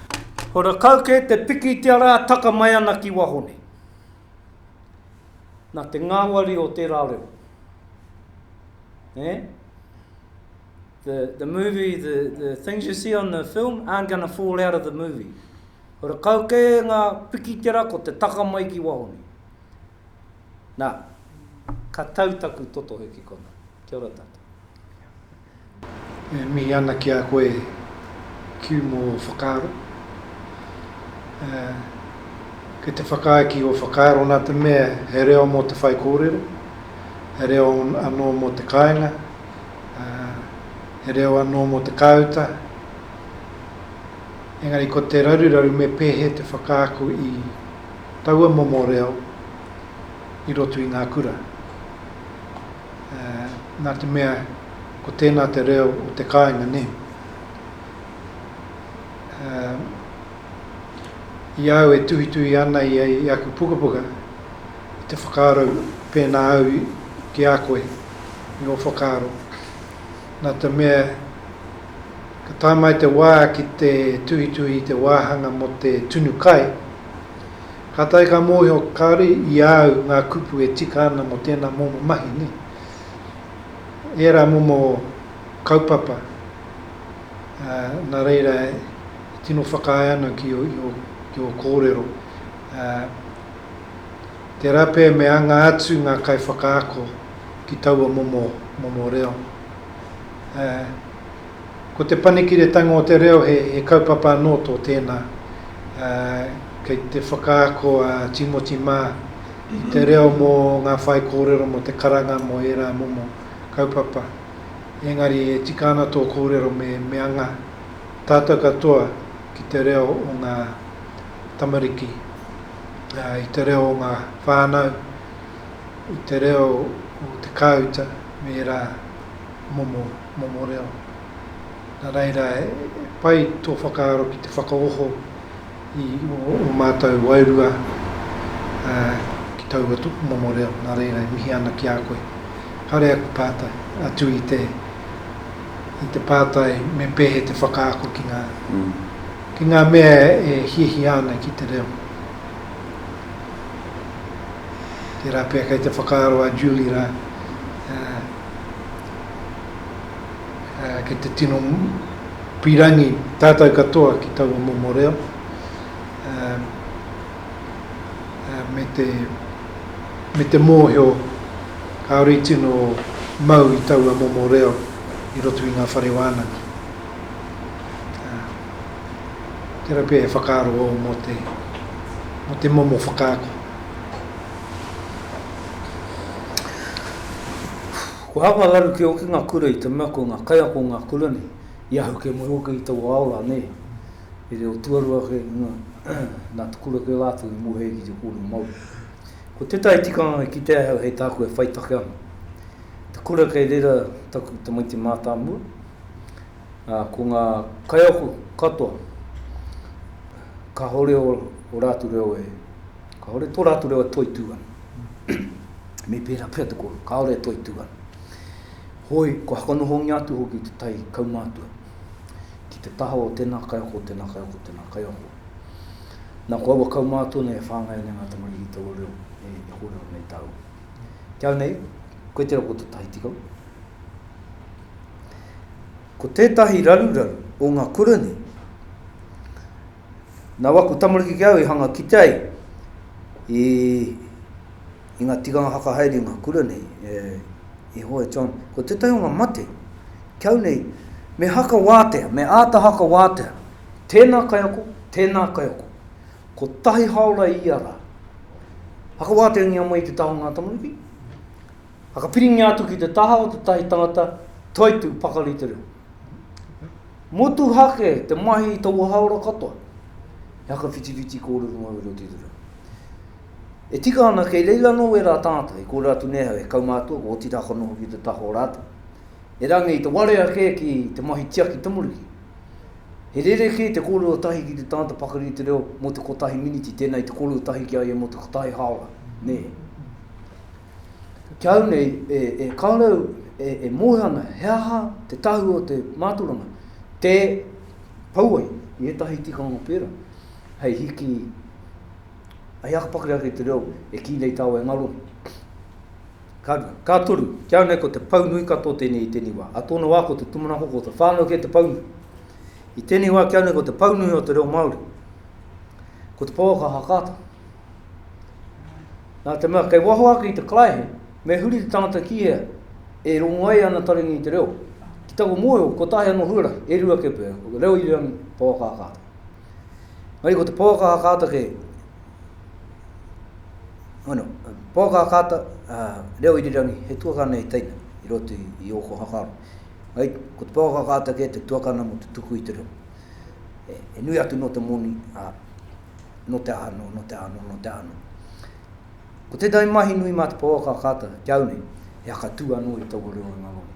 Ko rakau kē te pikitia rā taka mai ana ki waho nei. Nā te ngāwari o tērā reo. Eh? The, the movie, the, the things you see on the film aren't going to fall out of the movie. Ko rakau kē ngā pikitia rā ko te taka mai ki waho nei. Nā, ka tau taku totohe ki kona. Kia ora tātou. E mihi ana ki a koe Kew mō ō whakaaro. Kei te whakaae ki ō whakaaro nā te mea he reo mō te whaikōrero, he reo anō mō te kāinga, he reo anō mō te kāuta, engari ko te raruraru me pēhē te whakaako i taua momo reo i roto i ngā kura. nā te mea ko tēnā te reo o te kāinga nē. I a au e tuhituhi ana i aku pukapuka, i te whakaaro pēnā au ki a koe, i ō whakaaro, nā te mea ka tae mai te wā ki te tuhituhi i te wāhanga mō te tunu kai, Kātahi ka mōhio kāore i a au ngā kupu e tika ana mō tēnā momo mahi nei. Ērā momo kaupapa, ā, nā reira e tino whakaae ana ki ō, i ō, ki ō kōrero, ā, tērā pea me anga atu ngā kaiwhakaako ki taua momo, momo reo, ā. Ko Te Panekiretanga o te Reo he kaupapa anō tō tēnā, ā, kei te whakaako a Tīmoti mā i te reo mō ngā whaikōrero mō te karanga mō ērā momo kaupapa. Engari e tika ana tō kōrero me me anga tātou katoa ki te reo o ngā tamariki, ā, i te reo o ngā whānau, i te reo o te kāuta me ērā momo momo reo. Nā reira, he pai tō whakaaro ki te whakaoho i ō mātou wairua ki taua momo reo, nā reira e mihi ana ki a koe. Kāore aku pātai, atu i te, i te pātai me pēhea te whakaako ki ngā, ki ngā mea e hiahia ana ki te reo. Tērā pea kei te whakaaro a Julie rā, ki te tino pirangi tātou katoa ki taua momo reo me te me te mōhio kāore i tino mau i taua momo reo i roto i ngā whare wānanga. Tērā pia e whakaaro au mō te, mō te momo whakaako. Kua hanga raru ki hoki nga kura i te mea ko nga kaiako nga kura nei, i ahu ke moe hoki i taua ao la nei, he reo tuarua ake na te kura ke latou i moe ai ki te korero Maori. Ko tetahi tikanga e kitea ahau hei taku e whai take ana, te kura kei rera taku tamaiti matamua, a ko nga kaiako katoa kahore o ratu reo e Kāore tō rātou reo e toitū ana. Me pērā pea te kōrero, kāore e toitū ana. Hoi, kua whakanohongia atu hoki te tai kaumātua ki te taha o tēnā kaiako, tēnā kaiako, tēnā kaiako. Nā, ko aua kaumātua nei e whāngai ana ngā tamariki i taua reo e, e kōrero nei tāua. Ki au nei, koe tērā ko te tahi tikau. Ko tētahi raruraru o ngā kura nei, Nau aku tamariki ki au i hanga kite ai i i nga tikanga whakahaere i nga kura nei e i hoa e John ko tetahi o nga mate ki au nei me haka watea me ata haka watea tena kaiako tena kaiako ko tahi haora i ia ra haka watea ngia mai i te taha o nga tamariki haka piringia atu ki te taha o tetahi tangata toitu pakari te reo. Motuhake te mahi i taua hāora katoa. He whakawhitiwhiti kōrero mauri o Tūturau. E tika ana kei reira anō ērā tātai, kōrero atu nei he kaumātua, ko Oti Rākana hoki te taha o rātou. Erangi i te warea kē ki te mahi tiaki tamariki. He rerekē te kōrero tahi ki te tangata pakari i te reo mō te kotahi miniti, tēnā i te kōrero tahi ki a ia mō te kotahi hāora, nē. Ki au nei, e, e kāorau e, e moe ana he aha te tahu o te māturanga, tē pau ai i ētahi tikanga pērā, hei hiki, hei aka pakari ake te reo e kī nei tāua e ngaro nei. Ka, ka toru, ki au nei ko te pau nui katoa tēnei i tēnei wā. A tōna wā ko te tūmanako, ko te whānau kē te pau nui. I tēnei wā ki au nei ko te pau nui o te reo Māori, ko te pouaka hakaata. Nā te mea kei waho ake i te karaehe, me huri te tangata ki hea, e rongo ai ana taringa i te reo. Ki taku mōhio, kotahi anō huarahi, e rua kē pea, ko te reo irirangi, pouaka hakaata. Engari ko te pouaka hakaata kei, ano, pouaka hakaata, reo irirangi, he tuakana i teina, i roto i ōku hakaaro. Engari, ko te pouaka hakaata kē te tuakana mō te tuku i te reo. E nui atu nō te moni, ā, nō te aha anō, nō te aha anō, nō te aha anō. Ko tētahi mahi nui mā te pouaka a Carter ki au nei, he whakatū anō i taua reo o ngā wawe.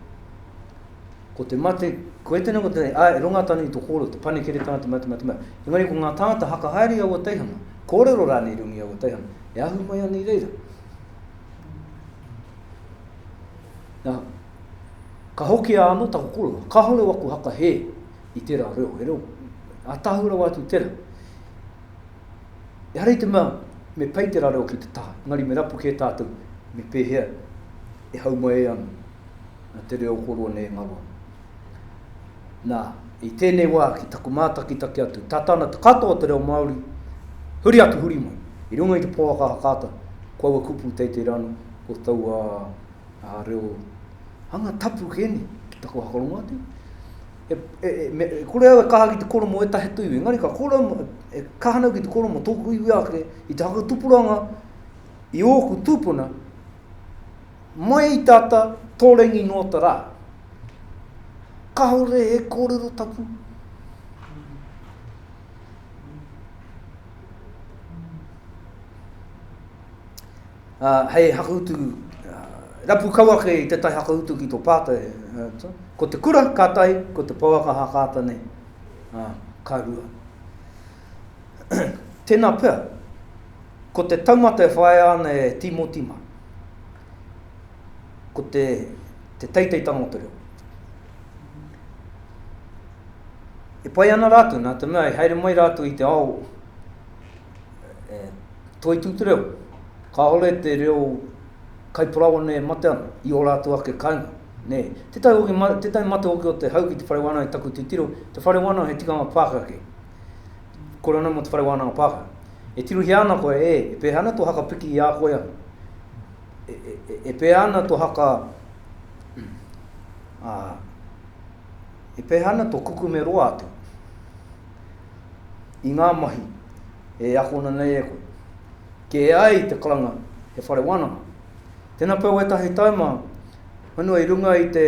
Ko te mate, ko e tēnā ko tēnā, ā, e runga tonu i to kōrero, te panekeretanga, te mate, mate, mate. Engari ko ngā tāngata haka haere i aua teihana, kōrero rānei runga i aua teihana, e ahu mai ana i reira. Nā, ka hoki a ano taku koroa, kahore waku haka he, i tērā reo, he reo ātahu rawa atu tērā. Ehara i te mea me pei tērā reo ki te taha, engari me rapu kē tātou me pēhea e hau mai e ana a te reo koroa nei e ngaro ana. Nā, i tēnei wā ki taku mātakitaki atu, tata ana te katoa o te reo Māori, huri atu, huri mai, i runga i te pouaka hakaata, ko aua kupu teitei rānō, ko taua reo Hanga tapu ke ne, ki taku hakarongo atu. E, e, e, me, e kore au e kaha ki te koromo e tahe tuiwi, engari ka kore au, e kaha nau ki te koromo tōku iwi ake, i te hakatupuranga, i ōku tūpuna, mai i tata tōrengi noa ta rā. Kahore he kōrero tapu. Hei hakautu rapu kau ake i tētahi hakautu ki tō pātai, ko te kura ka tahi, ko te pouaka hakaata nei ka rua. Tēnā pea, ko te taumata e whāia ana e Tīmoti mā, ko te teiteitanga o te reo. E pai ana rātou, nā te mea i haere mai rātou i te ao, e toitū te reo. Kāore te reo kaiparaoa nei e mate ana i ō rātou ake kāinga. Nē, tētahi hoki, tētahi mate hoki o te hau ki te whare wānanga i taku titiro, te whare wānanga he tikanga Pākehā kē. Kore anō mō te whare wānanga Pākehā. E tirohia ana koe, e, e pēhea ana tō haka piki i a koe anō. E, e, e, e pēhea ana tō haka, ā, e pēhea ana tō kukume roa atu. i ngā mahi e akona nei e koe. Kē ai te karanga he whare wānanga. Tēnā pea wētahi taima whenua i runga i te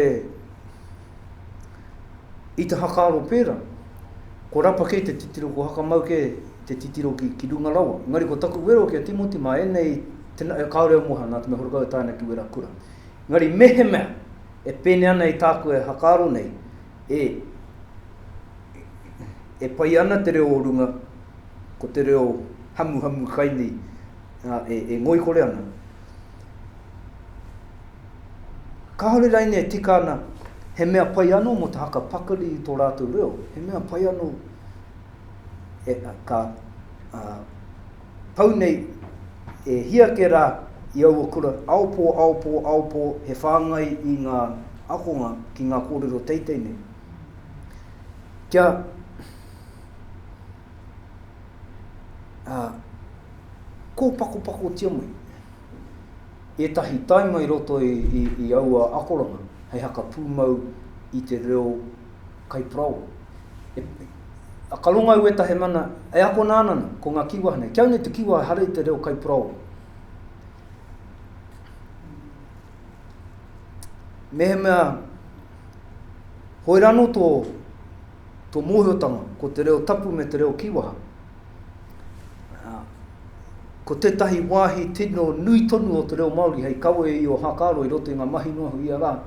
i te hakaaro pērā, ko rapa kē te titiro, ko hakamau kē te titiro ki, ki runga rawa. Engari ko taku wero ki a Timoti mā ēnei, tena, e kāore au moha nā te mea horekau e tae ana ki wera kura. Engari mehemea e pēnei ana i tāku e hakaaro nei, E, e pai ana te reo o runga, ko te reo hamuhamu kai nei, ā, e, e ngoikore ana. Kāore raine e tika ana, he mea pai anō mō te haka pakari i tō rātou reo, he mea pai anō, e, ka, ā, Pau nei, e hia ke ra i aua kura, aopo, aopo, aopo, he whangai i nga akonga ki nga korero teitei nei. Kia, ah, kopakopakotia mai etahi taima i roto i, i, i aua akoranga hei haka pumau i te reo Kaiparao. E, a ka ronga ueta he mana e akona ana na, ko nga kiwa nei. Kia nei te kiwa ehara i te reo kaiparao. Mehemea hoera no to to mohiotanga ko te reo tapu me te reo kiwaha. Ko tetahi wahi tino nui tonu o te reo Maori hei kawe i o Hakaro i roto i nga mahi noa hui ia ra,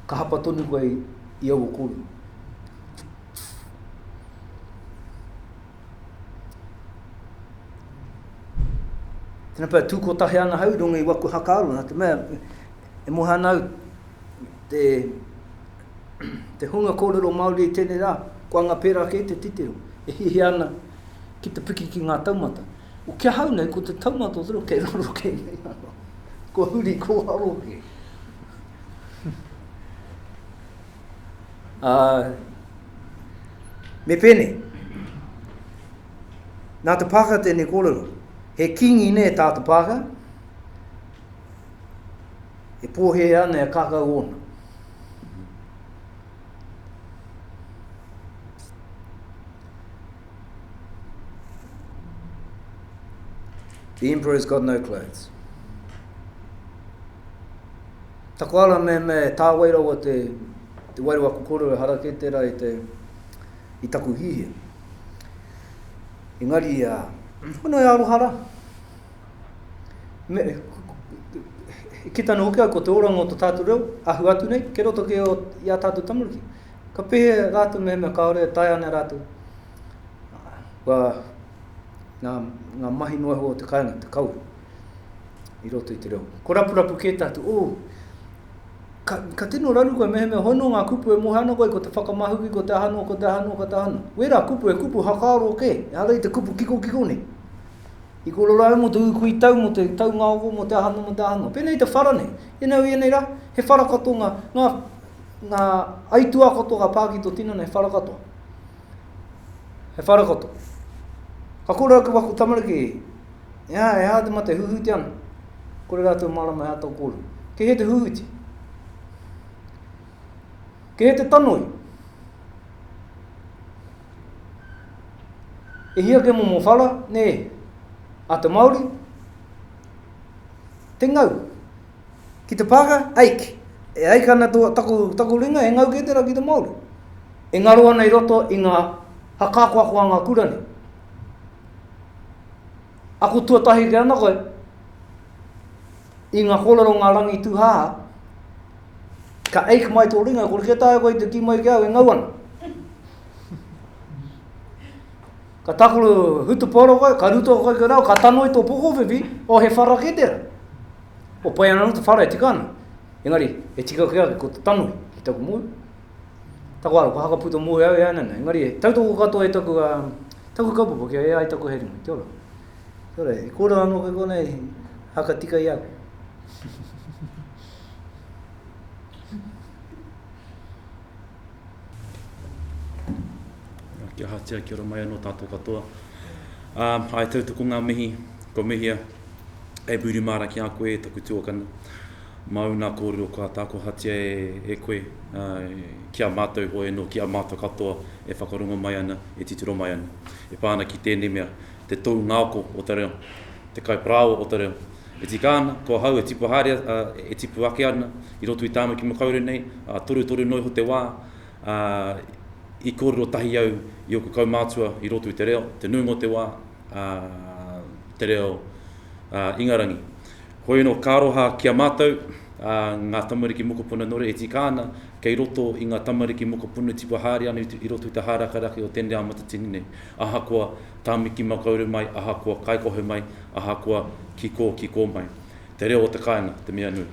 Ka hapa tonu koe i aua kōrero. Tēnā pēr, tū kotahi ana hau i runga i waku hakaaro, nā te mea, e moha ana au te, te hunga kōrero Māori i tēnei rā, ko anga pērā kē te titiro, e hiahia ana ki te piki ki ngā taumata. O kia hau nei, ko te taumata o te roa, kei raro kē nei ano. Kua huri, kua haro kē. Ā, me pēnei, nā te Pākehā tēnei kōrero, he kīngi nei tā te Pākehā, e pōhē ana e kākau ōna. The emperor's got no clothes. Taku ara me me tāwai rawa te, te wairu aku koro e hara kē tērā i te, i taku hihia. Engari, a, kono e aroha rā. Me, e kita nō hoki au ko te oranga o to tātou reo, ahu atu nei, ke roto kē o, i a tātou tamariki. Ka pehe rātou me me kāore e taea ana rātou, kua, ngā, ngā mahi noa iho o te kāinga, te kauri. i roto i te reo. Ko rapurapu kē tātou, oh, ka, ka tino raru koe mehemea hono ngā kupu e mohe ana koe, ko te whakamahuki, ko te aha noa, ko te aha noa, ko te aha noa. Wērā kupu, he kupu hakaaro kē, ehara i te kupu kikokiko nei. I korero ai mō te ūkui tau, mō te taungaongo, mō te aha noa, mō te aha noa. Pēnei te whara nei, ēnei au i ēnei rā, he whara katoa ngā, ngā, ngā aituā katoa ka pā ki tō tinana, he whara katoa. He whara katoa. Ka kōrero ake wā ko tamariki, He aha, he aha te mate huhuti ana? Kore rātou mārama he ato kōrero. Kei hea te huhuti? Kei hea te tanoi? E hia ke momo whara, nē, a te Māori? Te ngau. Ki te pāka, aik. E aik ana tō, taku, taku ringa, he ngau kē tērā ki te Māori. E ngaro ana i roto i ngā hakakoakoa ngā kura nei. Ako tuatahi kē ana koe i ngā kōrero ngā rangi tūhāhā, ka ache mai tō ringa, kore kē taea koe i te kī mai ki a au e ngau ana. Ka takuru hutupaoro koe, ka ruto koe ki rau, ka tanoi tō pokowhiwhi, o he whara kē tērā. O pai ana anō te whara e tika ana, engari e tika koe ake ko te tanoi ki taku mōhio. Taku aro, ko Haka Puta Moe au e ana nei, engari he tautoko katoa e taku, uh, taku kaupapa kia e ai taku hei ringa. Kia ora. Kia ora, i kōrero anō koe konei, haka tika i a koe. Kia hatia, kia ora mai anō tātou katoa. Um, hai tautoko ngā mihi, ko mihia, e Buri Māra ki a koe, taku tuakana. Mauna kōrero kua tākohatia e koe, ki a mātou hoi anō, ki a mātou katoa e whakarongo mai ana, e titiro mai ana. E pā ana ki tēnei mea, te tou ngāko o te reo, te kaiparāoa o te reo. E tika ana, ko ahau e tipu haere, e tipu ake ana i roto i tāna kimi kāore nei, ā, torutoru noa iho te wā, ā, i kōrero tahi au i ōku kaumātua i roto i te reo, te nuinga o te wā, ā, te reo, ā, Ingarangi. Hoi anō, ka aroha ki a mātou, ā, ngā tamariki mokopuna nōreira e tika ana kei roto i ngā tamariki mokopuna tipu haere ana i roto i te hārakaraka o tēnei ao matatini nei, ahakoa tāmiki makaurau mai, ahakoa kaikohe mai, ahakoa kiko, kiko mai. Te reo o te kāinga, te mea nui.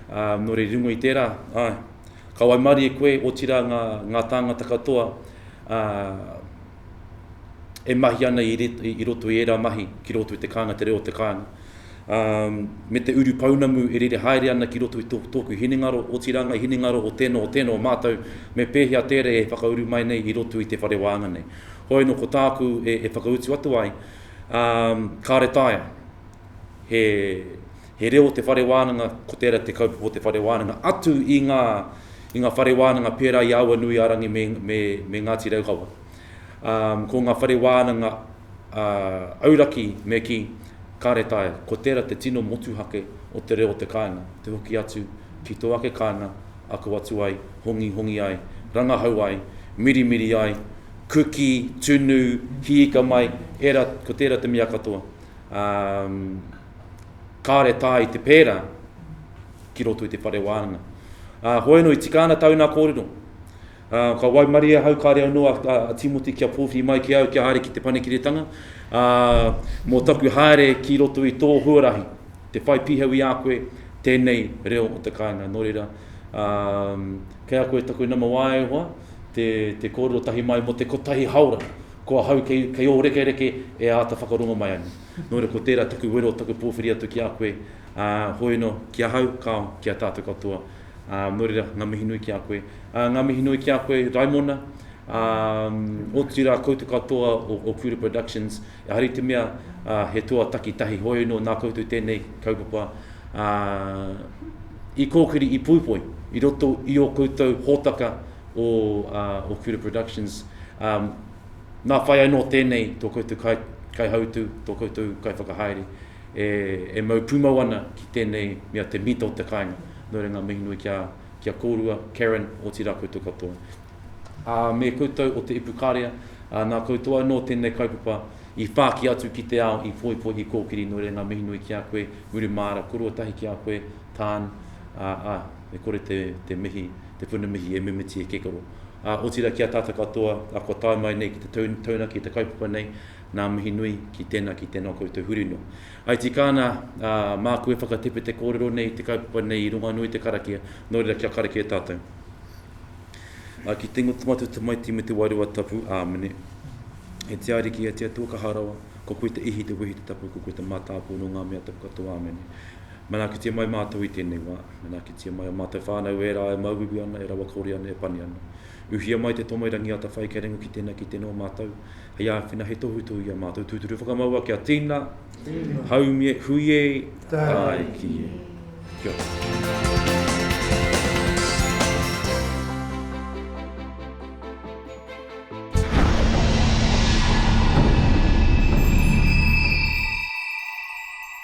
Ā, nō reira i runga i tērā, āe, ka waimarie koe, otirā ngā, ngā tāngata katoa, ā, e mahi ana i roto i ērā mahi ki roto i te kānga, te reo o te kānga. Me te uru pounamu e rere haere ana ki roto i tōku hinengaro, otirā ngā hinengaro o tēnā, o tēnā, o mātou, me pēhea tērā e whakauru mai nei i roto i te whare wānga nei. Hoi anō ko tāku e whakautu atu ai, kāre taea He reo o te whare wānanga, ko tērā te kaupapa o te whare wānanga, atu i ngā, i ngā whare wānanga pērā i Awanuiārangi me, me, me Ngāti Raukawa. Ā, ko ngā whare wānanga, ā, auraki me kī, kāre taea. Ko tērā te tino motuhake o te reo o te kāinga, te hoki atu ki tō ake kāinga, ako atu ai, hongihongi ai, rangahau ai, mirimiri ai, kuki, tunu, hiika mai, ērā, ko tērā te mea katoa. Ā, kāre tā i te pērā ki roto i te whare wānanga. Uh, ah, hoeno i tika ana tauna kōrero. Uh, ka waimari ahau ka reo noa a, a Timoti kia pōwhiri mai ki au kia haere ki te panekiretanga. Uh, mō taku haere ki roto i tō huarahi, te whai pihau i a koe, tēnei reo o te kāinga. Nō reira, um, kei a koe taku nama wāe hoa, te, te kōrero tahi mai mo te kotahi haora, ko ahau kei, kei o reke reke e āta whakarongo mai anu. Nō reira, ko tērā taku wero, taku pōwhiri atu ki a koe, ā, hoi anō, ki ahau, kāo, ki a tātou katoa. Ā, nō reira, ngā mihi nui ki a koe. Ā, ngā mihi nui ki a koe, Raimona, ā, otirā koutou katoa o, o Kura Productions, ehara i te mea, ā, he toa takitahi, hoi anō, nā koutou i tēnei kaupapa, ā, i kōkiri, i poipoi, i roto i ō koutou hōtaka o, ā, o Kura Productions, ā, Nā whai anō tēnei tō koutou kai, kaihautū, tō koutou kaiwhakahaere e, e mau pūmau ana ki tēnei mea te mita o te kāinga. Nō reira ngā mihi nui ki a, ki a kōrua, Karen, otirā koutou katoa. Ā, me koutou o te Ipukarea, ā, nā koutou anō tēnei kaupapa i whāki atu ki te ao, i poipoi, i kōkiri, nō reira ngā mihi nui ki a koe, Muri Māra, koroua tahi ki a koe, Tan, ā, ā, e kore te, te mihi te puna mihi e mimiti e Kekaro. Ā, otirā ki a tātou katoa, ā, kua tae mai nei ki te taunaki i te kaupapa nei, nā mihi nui ki tēnā, ki tēnā o koutou huri noa. I tika ana, ā, māku e whakatepe te kōrero nei i te kaupapa nei i runga anō i te karakia, nō reira kia karakia tātou. Ā, ki te ingoa te Matua Tamaiti me te Wairua Tapu, Āmene. E te Ariki, e te Atua Kaha Rawa, ko koe te ihi, te wehi, te tapu, ko koe te mātāpua nō ngā mea tapu katoa, Āmene. Manaakitia mai mātou i tēnei wā. Manaakitia mai ō mātou whānau, ērā e mauiui ana, e rawakore ana, e pani ana. Uhia mai te tomo i Rangiata whai kia ringa ki tēnā, ki tēnā o mātou, hei āwhina, hei tohutohu i a mātou. Tūturu whakamaua kia tīna, haumie, hui e, tāiki e. Kia ora.